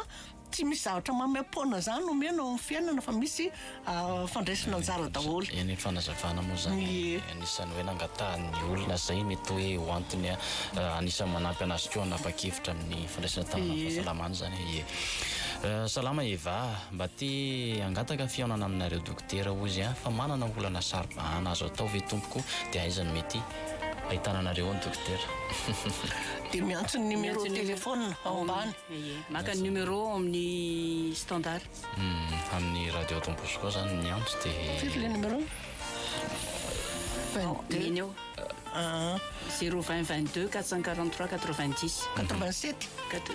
tsy misy zavatra mamepona zany omena ao fiainana fa misy ah, fandraisana anjara daholo eny fanazavana moa zany anisany hoe nangatahan'ny olona zay mety hoe ho antony ah, anisany manampy anazy koa anapa-kevitra amin'ny fandraisana tanana fahasalamana zany e eh, salama eva Mba te hangataka fihaonana aminareo dokotera hoy izy an, fa manana olana saro-bahana azo atao ve tompoko dia aiza no mety ahitana anareo ao ny dokotera. Dia miantso ny numéro téléphone ao ambany. Ie. Maka ny numéro ao amin'ny standard. Hum, amin'ny radio Don Bosco zany miantso dia. Firy ilay numéro? Ao, neny ao. Aa. Zéro vingt vingt deux quatre cent quarante trois quatre vingt dix. Quatre vingt sept. Quatre.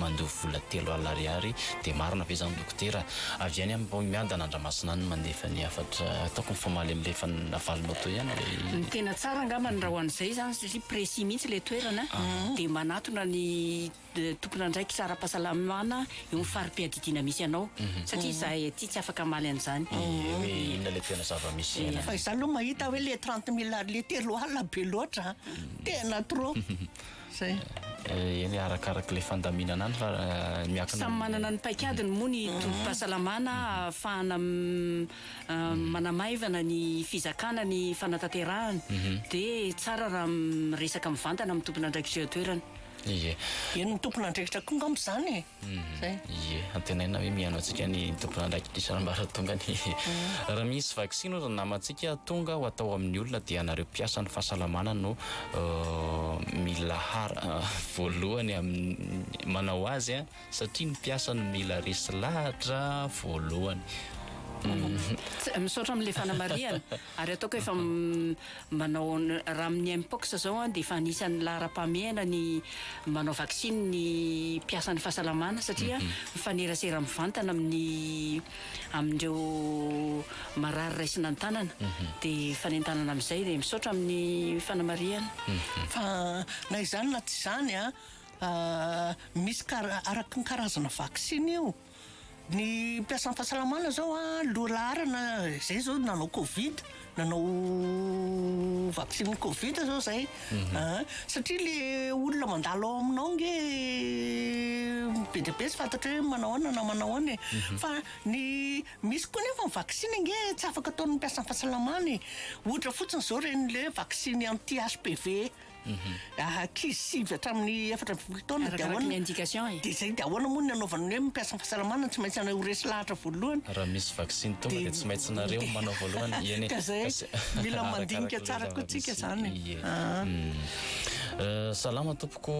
Mandoa vola telo alina ariary dia marina ve zany dokotera? Avy any am paomiadana andramasina any no mandefa ny hafatra ataoko ny famaly am le fa navalinao teo ihany le. Ny tena tsara angambany raha ho an'izay izany satria précis mihitsy ilay toerana dia manatona ny tompon'andraikitra ara-pahasalamana eo amin'ny fari-piadidiana misy anao satria izahay aty tsy afaka hamaly an'izany. Ny hoe inona ilay tena zava-misy iainana. Fa izaho aloha mahita hoe ilay trente mille ary ilay telo alina be loatra an! Tena trop. Eny e, arakaraka ilay fandaminana any fa miankina amin'ny. Samy manana ny paikadiny moa ny tobim-pahasalamana ahafahana manamaivana ny fizakana ny fanatanterahana. Dia tsara raha miresaka mivantana amin'ny tompon'andraikitra eo an-toerana. Ie. Eny ny tompon'andraikitra koa angamba izany e. Zay. Ie, antenaina hoe mihaino antsika ny tompon'andraikitry ambaratonga ny raha misy vaksiny hoy ry namantsika tonga ho atao amin'ny olona dia anareo mpiasan'ny fahasalamana no mila har voalohany amin'ny manao azy a, satria ny mpiasa no mila resy lahatra voalohany. Misaotra amin'ilay fanamarihana. Ary ataoko hoe efa manao raha amin'ny Mpox izao dia efa anisan'ny laharam-pahamehana ny manao vaksiny ny mpiasan'ny fahasalamana satria mifanerasera mivantana amin'ny amin'ireo marary raisina ny tanana dia fanentanana amin'izay dia misaotra amin'ny fanamarihana fa na izany na tsy izany misy kara, araky ny karazana vaksiny io. Ny mpiasan'ny fahasalamana zao loha laharana zay zao nanao covid nanao vaksiny covid zao zay mhm. ah, satria le olona mandalo ao aminao nge be dia be tsy fantatra hoe manao ahoana na manao ahoana e mhm. fa ny misy koa nefa ny vaksiny nge tsy afaka ataon'ny mpiasan'ny fahasalamana e ohatra fotsiny zao ren'le vaksiny anti HPV Raha ankizy sivy hatramin'ny efatra amby folo taona dia ahoana? Arakaraka ny indication e. Dia izay dia ahoana moa ny anaovana ny hoe mpiasa ny fahasalamana tsy maintsy ho resy lahatra voalohany? Raha misy vaksiny tonga dia tsy maintsy nareo no manao voalohany e. Eny e. Ka izay mila mandinika tsara koa tsika izany e. Ie. Salama tompoko,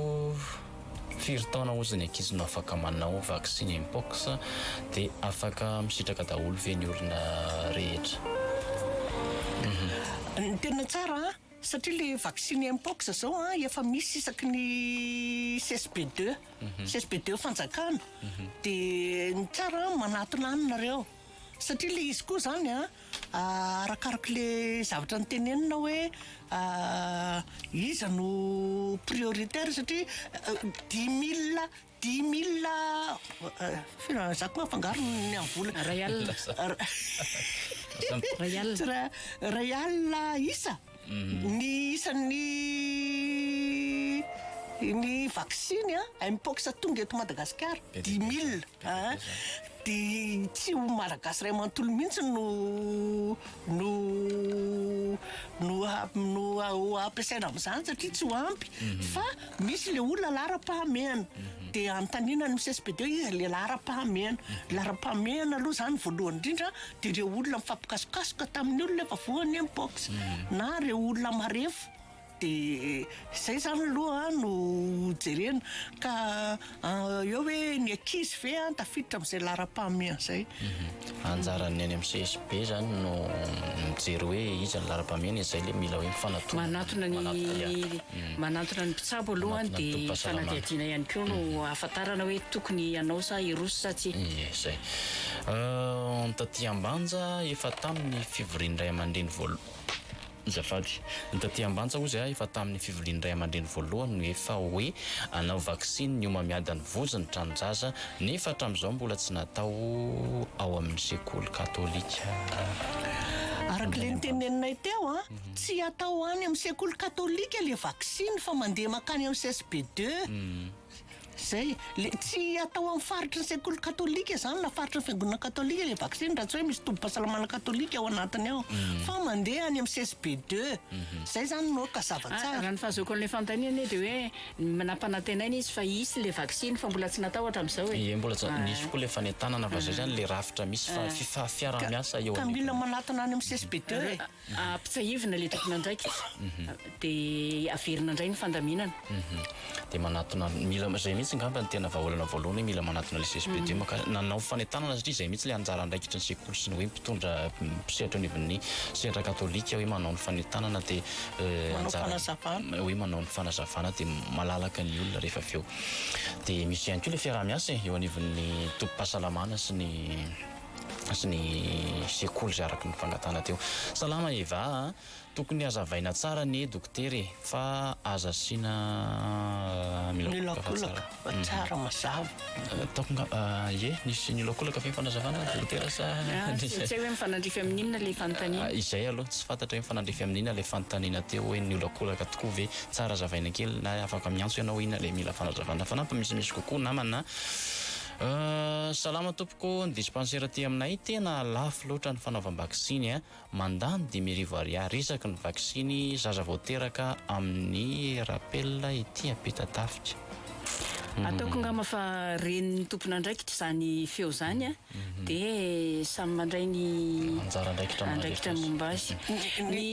firy taona ozy ny ankizy no afaka manao vaksiny mpox? Dia afaka misitraka daholo ve ny olona rehetra? Ny tena tsara Satria le vaksiny mpox zao a efa misy isaky ny CSB deux, CSB deux fanjakana de ny tsara a manatona any nareo satria le izy koa zany a arakaraka le zavatra notenenina hoe iza no prioritaire satria dix mille Dimy milina fihinanana za koa afangaro ny amin'ny vola. Iray alina. Iray alina. Tsy ra- iray alina isa ny isan'ny ny vaksiny an Mpox tonga eto Madagasikara. Be dia be Dimy milina. zany, be dia be Aa zany. dia tsy ho Malagasy iray manontolo mihitsy no no no ha- no ha- ho ampiasaina amin'izany satria tsy ho ampy fa Misy le olona laharam-pahamehana dia anontaniana ny CSPD hoe iza le laharam-pahamehana. Laharam-pahamehana aloha zany voalohany indrindra dia ireo olona mifampikasokasoka tamin'ny olona efa voan'ny Mpox na ireo olona marefo dia izay zany aloha no jerena ka. Eo hoe ny ankizy ve an tafiditra amin'izay laharam-pahamehana izay? Anjaran'ny any amin'ny CSB izany no mijery hoe iza ny laharam-pahamehana, izay ilay mila hoe mifanatona. Manatona ny manatona ny mpitsabo aloha dia fanadihadiana ihany koa no ahafantarana hoe tokony hanao sa hiroso sa tsia. Ie, izay. Taty Ambanja, efa tamin'ny fivorian'ny ray aman-dreny voalohany. Azafady. Ny taty ambantsa ozy a efa taminy fiviliany ray amandreny voalohany no efa oe anao vaksiny ny homamiady any vozy ny tranonjaza nefa atramizao mbola tsy natao ao aminy sekoly katolika. Araka le niteneninay teo a, tsy atao any am sekoly katolika le vaksiny fa mandeha makany am csb deux. Izay, le tsy atao amin'ny faritry ny sekoly katolika izany na faritry ny fiangonana katolika le vaksiny raha tsy hoe misy tobim-pahasalamana katolika ao anatiny ao fa mandeha any amin'ny csb deux. Izay izany no aoka zava-tsara. Ah, raha ny fahazoako an'ilay fanontaniana anie dia hoe nampanantenaina izy fa hisy ilay vaksiny fa mbola tsy natao hatramin'izao e. Ie, mbola tsy natao. Nisy koa ilay fanentanana fa izay izany ilay rafitra misy fa fifa- fiaraha-miasa eo anivon'ny. Ka mila manatona any amin'ny csb deux e. Ampitsiahivina ilay tompon'andraikitra dia averina indray ny fandaminana. Dia manatona, mila izay mihitsy angamba no tena vahaolana voalohany hoe mila manatona ilay CSPD maka, nanao fanentanana satria izay mihitsy ilay anjara andraikitry ny sekoly sy ny hoe mpitondra, mpisehatra eo anivon'ny sehatra katolika hoe manao ny fanentanana dia anjara, hoe manao ny fanazavana dia malalaka ny olona rehefa avy eo. Dia misy ihany koa ilay fiaraha-miasa e, eo anivon'ny tobim-pahasalamana sy ny. sy ny sekoly izay araka ny fangatahana teo. Salama Eva a! Tokony hazavaina tsara anie dokotera e! Fa aza asiana miolakolaka fa tsara mazava. Ataoko ngamba ie nisy niolakolaka ve ny fanazavana dokotera sa nisy. Tsy hay hoe mifanandrify amin'ny inona ilay fanontaniana. Izay aloha tsy fantatra hoe mifanandrify amin'ny inona ilay fanontaniana teo hoe niolakolaka tokoa ve? Tsara hazavaina kely na afaka miantso ianao inona ilay mila fanazavana. Fanampiny misimisy kokoa namana a! Salama tompoko, ny dispansera aty aminay tena lafo loatra ny fanaovam-baksiny a! mandany dimy arivo ariary isaky ny vaksiny zaza vao teraka amin'ny rappel ety Ampitatafika. Ataoko ngamba fa ren'ny tompon'andraikitra izany feo izany a! dia samy mandray ny Anjara andraikitra momba an'ilay andraikitra feo. momba azy. Ny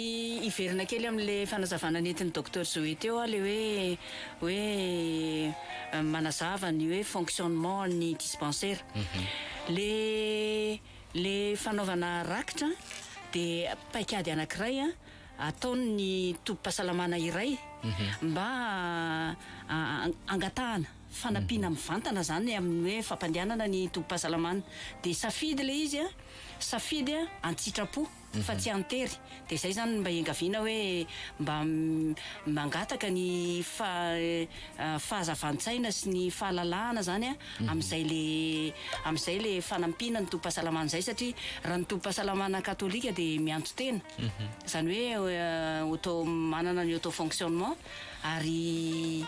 hiverina kely amin'ilay fanazavana nentin'i Docteur Zoé teo aho ilay hoe hoe manazava ny hoe fonctionnement ny dispensaire le le fanaovana rakitra de paikady anakiray ataon ny tobim-pahasalamana iray mba angatahana fanampiana mivantana zany amin ny hoe fampandehanana ny tobim-pahasalamana de safidy le izy safidy antsitrapo fa tsy an-tery dia izay izany mba iangaviana hoe mba mangataka ny fahazavan-tsaina sy ny fahalalahana izany amin'izay le amin'izay le fanampiana ny tobim-pahasalamana izay satria raha ny tobim-pahasalamana katolika dia mianto tena izany hoe auto manana ny auto fonctionnement ary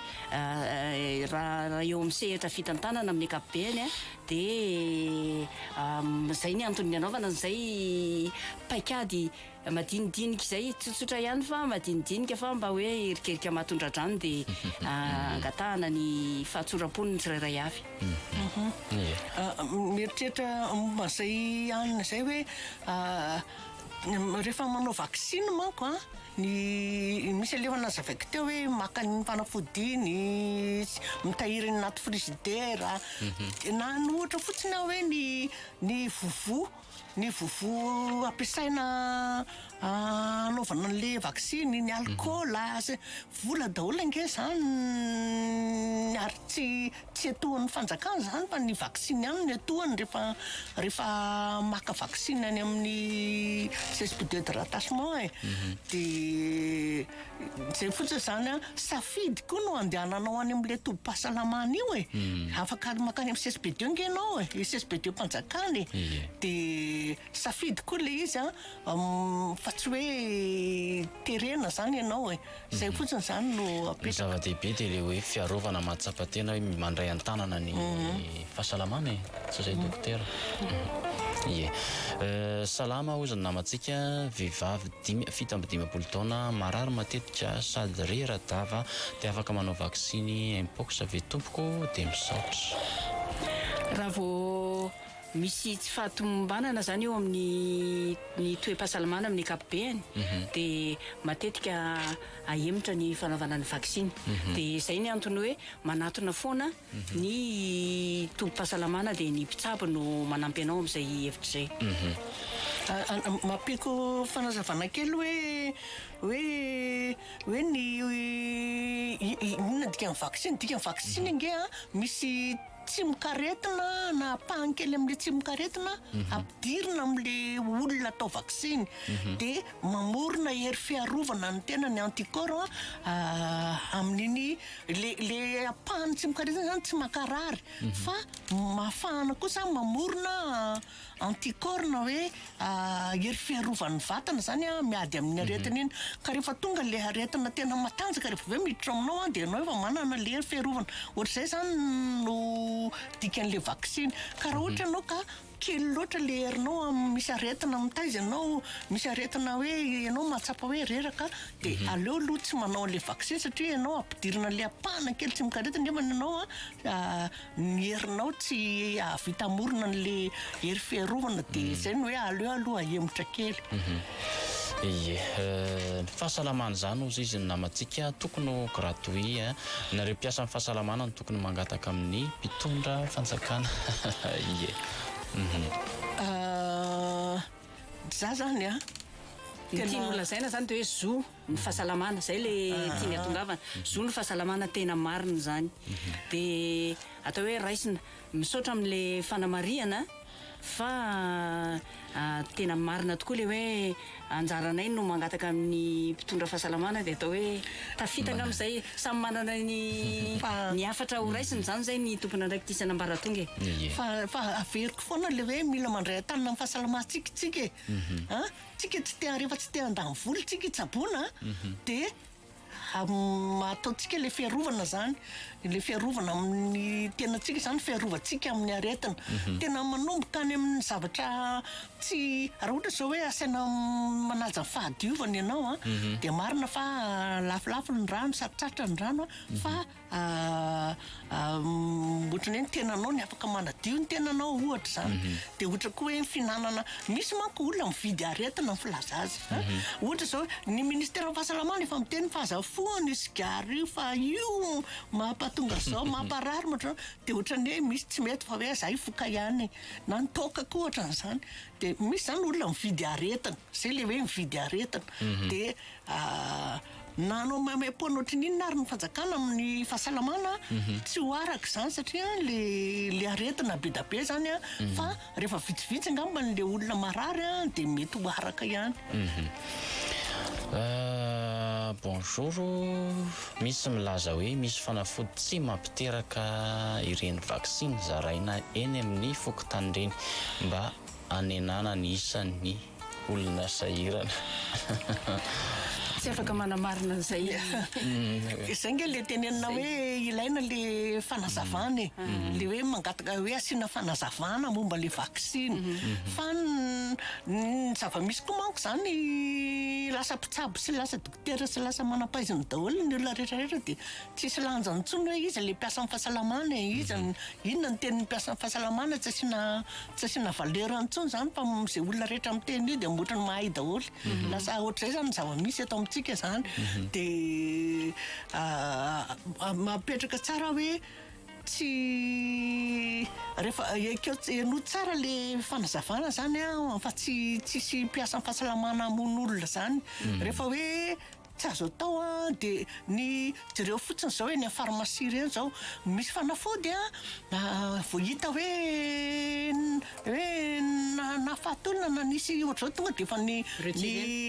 raha raha eo amin'ny sehatra fitantanana amin'ny ankapobeny Dia izay ny antony nanaovana an'izay paikady madinidinika izay, tsotsotra ihany fa madinidinika fa mba hoe erikerika mahatondradrano dia angatahana ny fahatsoram-pon'ny tsirairay avy. Mieritreritra momba an'izay hanina izay hoe rehefa manao vaksiny manko an, Ny misy aloha efa nazavaiko teo hoe maka ny fanafody iny, mitahiry ny anaty frizidera, dia nany ohatra fotsiny aho hoe ny ny vovo, ny vovo ampiasaina hanaovana an'ilay vaksiny, ny alikaola, vola daholo ange izany ary tsy Tsy etohan'ny fanjakana izany fa ny vaksiny ihany no etohany rehefa rehefa maka vaksiny any amin'ny cespude de rattachement e. Mhm. Dia izay fotsiny izany a, safidy koa no andehananao any amin'ilay tobim-pahasalamana io e. Mhm. Afaka makany amin'ny cespude eo ange ianao e, i cespude-mpanjakana e. Dia safidy koa ilay izy a, fa tsy hoe terena izany ianao e. Izay fotsiny izany no apetraka. Ny zava-dehibe dia ilay hoe fiarovana mahatsapa tena hoe mandray an-tanana ny fahasalamana e! Tsy izay dokotera? Ie. Salama hozy ny namantsika vehivavy dimy, fito amby dimampolo taona marary matetika sady rera-dava dia afaka manao vaksiny Mpox ve tompoko? Dia misaotra. Raha vao Misy tsy fahatomombanana izany eo amin'ny ny toe-pahasalamana amin'ny ankapobehany dia matetika ahemotra ny fanaovana ny vaksiny. Dia izay ny antony hoe manatona foana ny tobim-pahasalamana dia ny mpitsabo no manampy anao amin'izay hevitra izay. Ampiako fanazavana kely hoe hoe hoe ny inona ny dikan'ny vaksiny? Ny dikan'ny vaksiny ange an misy Tsimokaretina, na ampahany kely amin'ilay tsimokaretina, ampidirina amin'ilay olona atao vaksiny. Dia mamorona hery fiarovana an'ny tena ny anticorps amin'iny, ilay, ilay ampahan'ny tsimokaretina izany tsy mankarary, fa mafana kosa, mamorona. Anticorps na hoe hery fiarovan'ny vatana izany miady amin'ny aretina iny. Ka rehefa tonga ilay aretina tena matanjaka rehefa avy eo miditra ao aminao dia ianao efa manana ilay hery fiarovana. Ohatr'izay izany no dikan'ilay vaksiny. Ka raha ohatra ianao ka kely loatra ilay herinao amin'ny misy aretina mitaiza anao, misy aretina hoe ianao mahatsapa hoe reraka dia aleo aloha tsy manao an'ilay vaksiny satria ianao ampidirina an'ilay ampahana kely tsy mikaretina nefa ianao Ny herinao tsy hahavita hamorona an'le hery fiarovana de mm. zay no hoe aleo aloha ahemotra kely. Mhm. Ie, euh, ny fahasalamana zany ozy izy ny namantsika tokony ho gratuit hein. Eh. Nareo mpiasan'ny fahasalamana no tokony mangataka amin'ny mpitondra fanjakana. Ie. Mhm. Euh, za zany a. Tena... Ny tian'olona zaina zany de hoe zo. ny fahasalamana zay le tiany atongavana zo ny fahasalamana tena marina zany de atao hoe raisina misaotra amle fanamarihana fa tena marina tokoa le hoe anjaranay no mangataka amin'ny mpitondra fahasalamana de atao hoe tafitaka amzay samy manana ny ny hafatra ho raisiny zany zay ny tomponandraikitra isan'ambaratonga e fa fa averiko foana le hoe mila mandray an-tanana amin'ny fahasalamantsika tsika e an Tsika tsy te rehefa tsy te handany vola tsika hitsaboana de ataontsika le fiarovana zany le fiarovana amin'ny tenantsika zany fiarovantsika amin'ny aretina mhm. tena manomboka any amin'ny zavatra tsy raha ohatra zao hoe asaina manaja fahadiovana ianao a mhm. de marina fa lafolafo ny rano sady tratra ny rano a mhm. fa Aahh ohatrany hoe ny tenanao ny afaka manadio ny tenanao ohatra izany dia ohatra koa hoe ny fihinanana misy manko olona mividy aretina ny filaza azy a ohatra izao ny ministeran'ny fahasalamana efa miteny fa aza fohano io sigara io fa io mampatonga an'izao mamparary ma ohatrany hoe dia ohatrany hoe misy tsy mety fa hoe zay voka ihany na ny toaka koa ohatran'izany dia misy izany olona mividy aretina zay ilay hoe mividy aretina dia Nanao maimaim-po an'ohatry ny inona ary ny fanjakana amin'ny fahasalamana tsy ho araka izany satria le le aretina be dia be zany a fa rehefa vitsivitsy angamba ny le olona marary a dia mety ho araka ihany. Bonjour, misy milaza hoe misy fanafody tsy mampiteraka ireny vaksiny zaraina eny amin'ny fokontany ireny mba hanenana ny isan'ny olona sahirana. Tsy afaka manamarina an'izay i. Izay ange ilay tenenina hoe ilaina ilay fanazavana e. Ilay hoe mangataka hoe asiana fanazavana momba ilay vaksiny. Fa ny zava-misy koa manko izany lasa mpitsabo sy lasa dokotera sy lasa manam-pahaizana daholo ny olona rehetrarehetra dia Tsisy lanjany tsony hoe iza le mpiasan'ny fahasalamana e, iza ny, inona ny tenin'ny mpiasan'ny fahasalamana, tsy asiana, tsy asiana valeur intsony zany fa ze olona rehetra miteny io de otrany mahay daholo, lasa otrzay zany ny zava-misy eto amintsika zany, de mapetraka tsara hoe tsy rehefa ekeo, henoy tsara le fanazavana zany an fa tsy, tsisy mpiasan'ny fahasalamana hamono olona zany rehefa hoe Tsy azo atao an dia ny jereo fotsiny izao eny amin'ny pharmacie ireny izao misy fanafody an vao hita hoe hoe nahafaty olona na nisy ohatr'izao tonga dia efa ny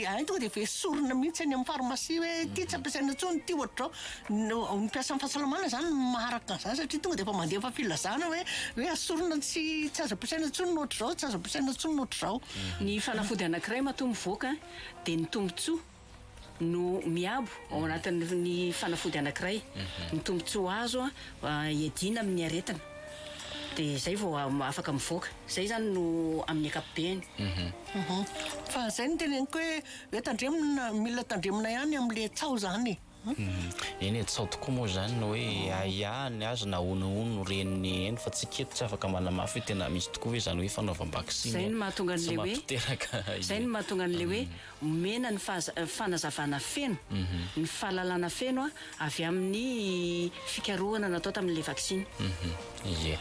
hay tonga dia efa esorina mihitsy eny amin'ny pharmacie hoe ity tsy ampiasaina intsony ity ohatr'izao no ny mpiasan'ny fahasalamana izany maharaka an'izany satria tonga dia efa mandefa filazana hoe hoe asorina tsy tsy azo ampiasaina intsony ny ohatr'izao tsy azo ampiasaina intsony ny ohatr'izao ny fanafody anankiray matoa mivoaka dia ny tombotsoa no miabo ao anatin'ny fanafody anankiray, ny tombontsoa azo hiadiana amin'ny aretina dia izay vao afaka mivoaka, izay izany no amin'ny ankapobeny. Fa izay no teneniko hoe, hoe tandremina, mila tandremina ihany amin'ilay tsaho izany e! Eny e, tsy ao tokoa moa izany ny hoe ahiahy ny azy na ahoana ahoana no ren'ny ainy fa tsy kety, tsy afaka manamafy hoe tena misy tokoa ve izany hoe fanaovam-baksiny tsy mampiteraka ahiahy. Izay no mahatonga an'ilay hoe omena ny fanazavana feno, ny fahalalana feno avy amin'ny fikarohana natao tamin'ilay vaksiny. Ie.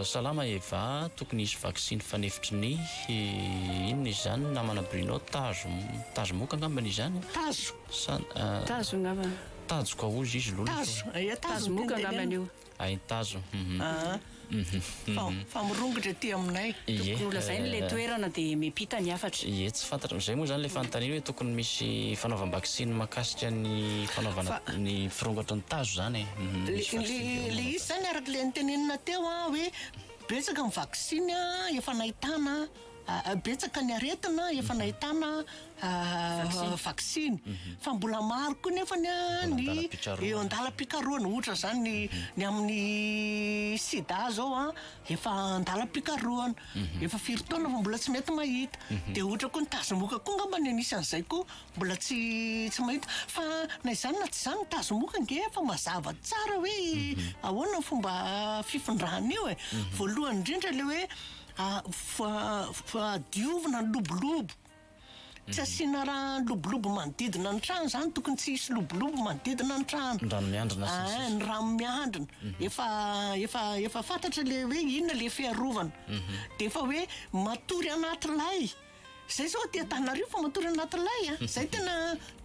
Salama Eva, tokony hisy vaksiny fanefitry ny inona izy izany namana Bruno, tazo, tazo moka angamba ny izany a? Tazo, Sa, tazo angamba. Tajo ka hozy izy lolo. Tazo, aia tazo. Tazo moka angamba io. Ain tazo, hum. Aa, fa, fa mirongotra ety aminay. Ie. Tokony ho lazainy ilay toerana dia miampita ny hafatra. Ie, tsy fantatra, izay moa izany ilay fanontaniana hoe tokony misy fanaovam-baksiny mahakasika ny fanaovana ny firongatry ny tazo izany e. Le izy zany araka le notenenina teo an hoe betsaka ny vaksiny efa nahitana betsaka ny aretina efa nahitana vaksiny mhm. fa mbola maro koa nefa ny ny eo andalam-pikarohana ohatra zany ny mhm. ny amin'ny sida zao an efa andalam-pikarohana mhm. efa firy taona fa mbola tsy mety mahita de ohatra koa ny tazomoka koa ngamba ny anisany zay koa Mbola tsy tsy mahita fa na izany na tsy izany ny tazomoka ange efa mazava tsara hoe mhm. ahoana ny fomba fifindrany io e. Mhm. Voalohany indrindra le hoe fadiovina ny lobolobo mhm. tsy asiana raha lobolobo manodidina ny trano zany tokony tsy hisy lobolobo manodidina ny trano ny rano miandrina ah, ny rano miandrina efa efa efa fantatra le hoe inona le fiarovana de efa hoe matory anaty lay Zay zao aty Antananarivo fa matory anaty lay a. Zay tena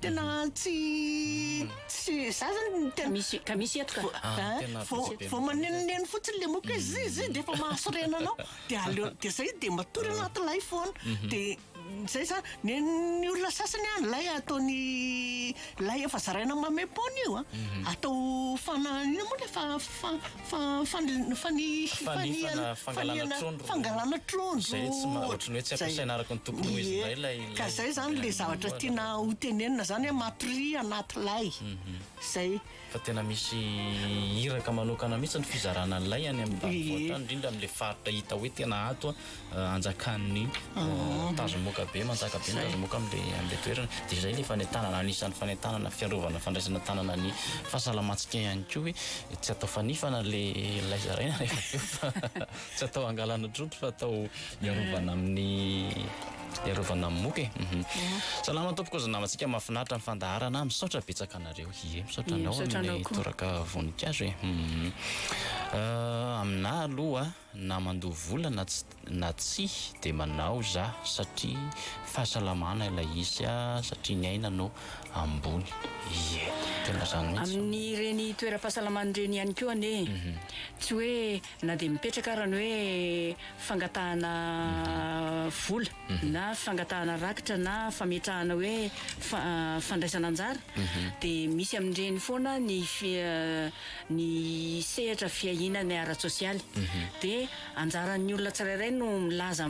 tena tsy tsy za zany tena Misy ka misy eto ka. Ah, Ah, tena vao tsy dia vao matory. manenoneno fotsiny le moka hoe zi zi dia efa mahasorena anao dia aleo dia zay dia matory anaty lay foana dia zay za ny ny olona sasany a ny lay ataony lay efa zaraina mamaimpona io a atao fana ino moa le fa- fa- Fa, fa, fa ny fanihana, fangalana trondro, fangalana trondro, izay tsy ma, ohatran'ny hoe tsy ampiasaina araka ny tokony ho izy indray ilay, ilay, ka zay zany le zavatra tiana hotenenina zany hoe matoria anaty lay, mhm. zay. Fa tena misy iraka manokana mihitsy ny fizarana ny lay any amin'ny ambanivohitra any, indrindra amin'ilay faritra hita hoe tena ato hanjakan'ny tazomoka be manjaka be ny tazomoka amin'ilay toerana dia izay ilay fanentanana anisan'ny fanentanana fiarovana fandraisana tanana ny fahasalamantsika ihany koa hoe tsy atao fanifana ilay zaraina rehefa avy eo fa tsy atao hangalana trondro fa atao hiarovana amin'ny hiarovana amin'ny moka e salama tompoko zy namantsika mahafinaritra ny fandaharana misaotra betsaka anareo ie misaotra anao amin'ny toraka voninkazo e aminà aloha Na mandoa vola na tsy na tsia dia manao za satria fahasalamana ilay izy a satria ny aina no ambony ie tena zany mihitsy. Amin'ireny toeram-pahasalamana ireny ihany koa anie tsy hoe na dia mipetraka ary ny hoe fangatahana vola. na fangatahana rakitra na fametrahana hoe fandraisana anjara dia misy amin'ireny foana ny ny sehatra fiahiana ny ara-tsosialy dia anjaran'ny olona tsirairay no milaza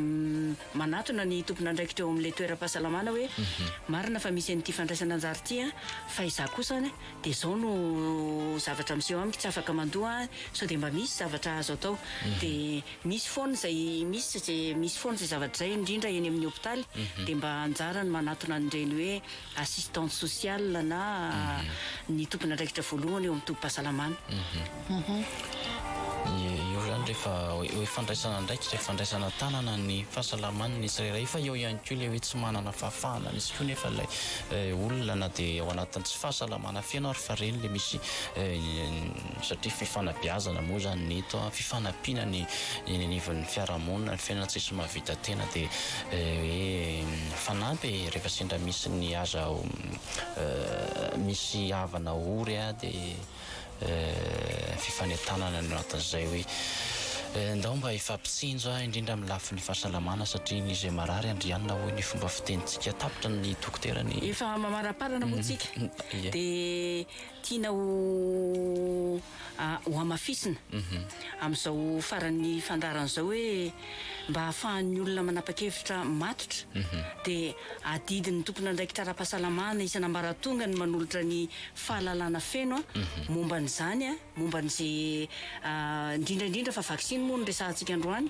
manatona ny tompon'andraikitra eo amin'ilay toeram-pahasalamana hoe marina fa misy an'ity fandraisana anjara ity an fa izaho kosa dia izao no zavatra miseho amiko tsy afaka mandoa an sao dia mba misy zavatra azo atao dia Misy foana izay misy izay misy foana izay zavatra izay indrindra eny amin'ny hopitaly dia mba anjara ny manatona an'ireny hoe assistante sociale na ny tompon'andraikitra voalohany eo amin'ny tobim-pahasalamana. Io izany rehefa hoe fandraisana andraikitra, fandraisana an-tanana ny fahasalaman'ny tsirairay fa eo ihany koa ilay hoe tsy manana fahafahana misy koa nefa ilay olona na dia ao anatin'ny tsy fahasalamana feno ary fa ireny ilay misy satria fifanabeazana moa izany ny eto, fifanampiana ny eny anivon'ny fiarahamonina, ny fiainana tsisy mahavita tena dia hoe mifanampy e, rehefa sendra misy ny aza misy havana ory dia fifanentanana ny ao anatin'izay hoe ndao mba hifampitsinjo aho indrindra amin'ny lafiny fahasalamana satria ny izay marary andrianina hoy ny fomba fitenintsika, tapitra ny dokotera ny. Efa mamaraparana moa tsika dia. Tiana ho hamafisina amin'izao faran'ny fandaharana izao hoe mba hahafahan'ny olona manapa-kevitra matotra dia adidin'ny tompon'andraikitra ara-pahasalamana isan'ambaratonga ny manolotra ny fahalalana feno momba an'izany, momba an'izay indrindra indrindra fa vaksiny moa no resahantsika androany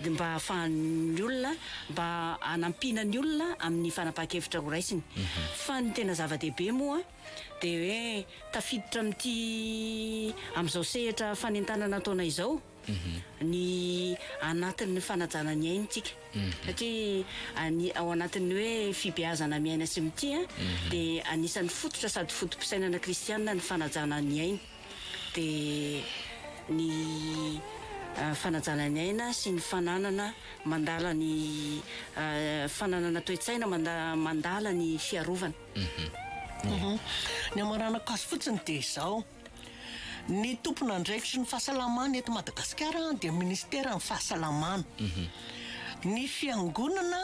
dia mba hahafahan'ny olona mba hanampiana ny olona amin'ny fanapahan-kevitra ho raisiny fa ny tena zava-dehibe moa dia hoe tafiditra amin'ity amin'izao sehatra fanentanana ataonay izao ny anatin'ny fanajana ny aintsika satria any ao anatin'ny hoe fibeazana miaina sy mitia dia anisan'ny fototra sady foto-pisainana kristianina ny fanajana ny aina dia ny fanajana ny aina sy ny fananana mandala ny fananana toe-tsaina mandala ny fiarovana Ny hamaranako azy fotsiny dia izao, ny tompon'andraikitry ny fahasalamana eto Madagasikara dia Ministeran'ny fahasalamana. Ny fiangonana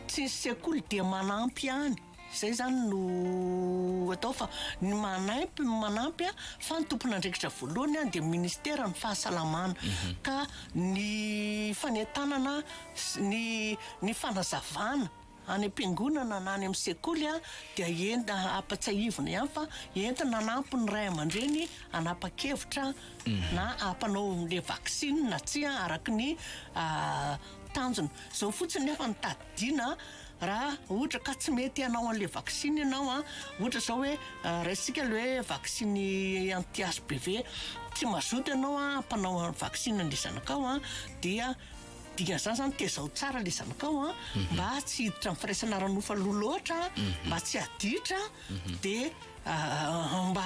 tsy ny sekoly dia manampy ihany, izay izany no atao fa ny manampy no manampy fa ny tompon'andraikitra voalohany dia Ministeran'ny fahasalamana. Ka ny fanentanana sy ny ny fanazavana. Any am-piangonana na any amin'ny sekoly dia entina hampatsiahivina ihany fa entina hanampy ny ray aman-dreny hanapa-kevitra na hampanao an'ilay vaksiny na tsia araka ny tanjona. Izao fotsiny nefa no tadidiana raha ohatra ka tsy mety hanao an'ilay vaksiny ianao, ohatra izao hoe raisitsika ilay hoe vaksiny anti HPV, tsy mazoto ianao hampanao vaksiny an'ilay zanakao dia. Dingana zany zany tezao tsara le zanakao a mba tsy hiditra am firaisana ara nofo aloha loatra mba tsy aditra de mba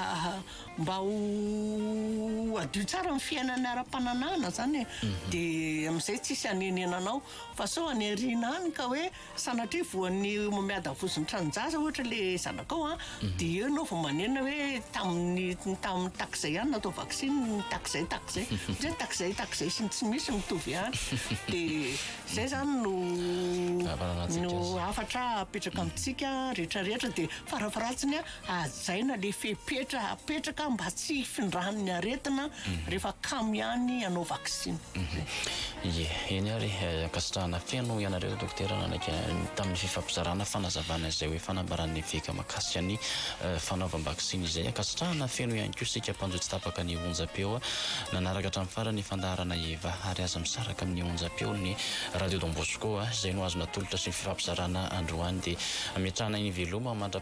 mba ho adio tsara am fiainana ara pananahana zany e de amzay tsisy anenenanao fa sao any arina any ka hoe Sanatria voan'ny miadavozin'ny tranon-jaza ohatra ilay zanakao an, dia eo ianao vao manenina hoe tamin'ny tamin'ny takizay ihany natao vaksiny ny takizay takizay. Satria ny takizay takizay sy ny tsy misy mitovy ihany. Dia izay izany no Ahafantarantsika no azy. hafatra apetraka amintsika rehetra rehetra dia farafaharatsiny an, Hajaina le fepetra apetraka mba tsy hifindran'ny aretina rehefa kamo ihany ianao vaksiny. Ie, eny ary e, ankasitrahana feno ianareo Dokotera nanaiky tamin'ny fifampizarana fanazavana izay hoe fanambaran'ny eveka makasika ny fanaovam-baksiny izay. Ankasitrahana feno ihany koa isika mpanjo tsy tapaka ny onjam-peo nanaraka hatramin'ny farany ny fandaharana Eva ary aza misaraka amin'ny onjam-peo ny Radio Don Bosco izay no azo natolotra sy fifampizarana androany dia ametrahana eny veloma mandra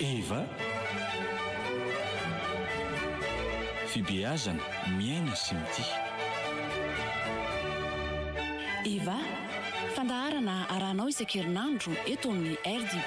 Eva, Fibeazana, miaina sy mitia. Eva, Fandaharana arahanao isan-kerinandro eto amin'ny RDB.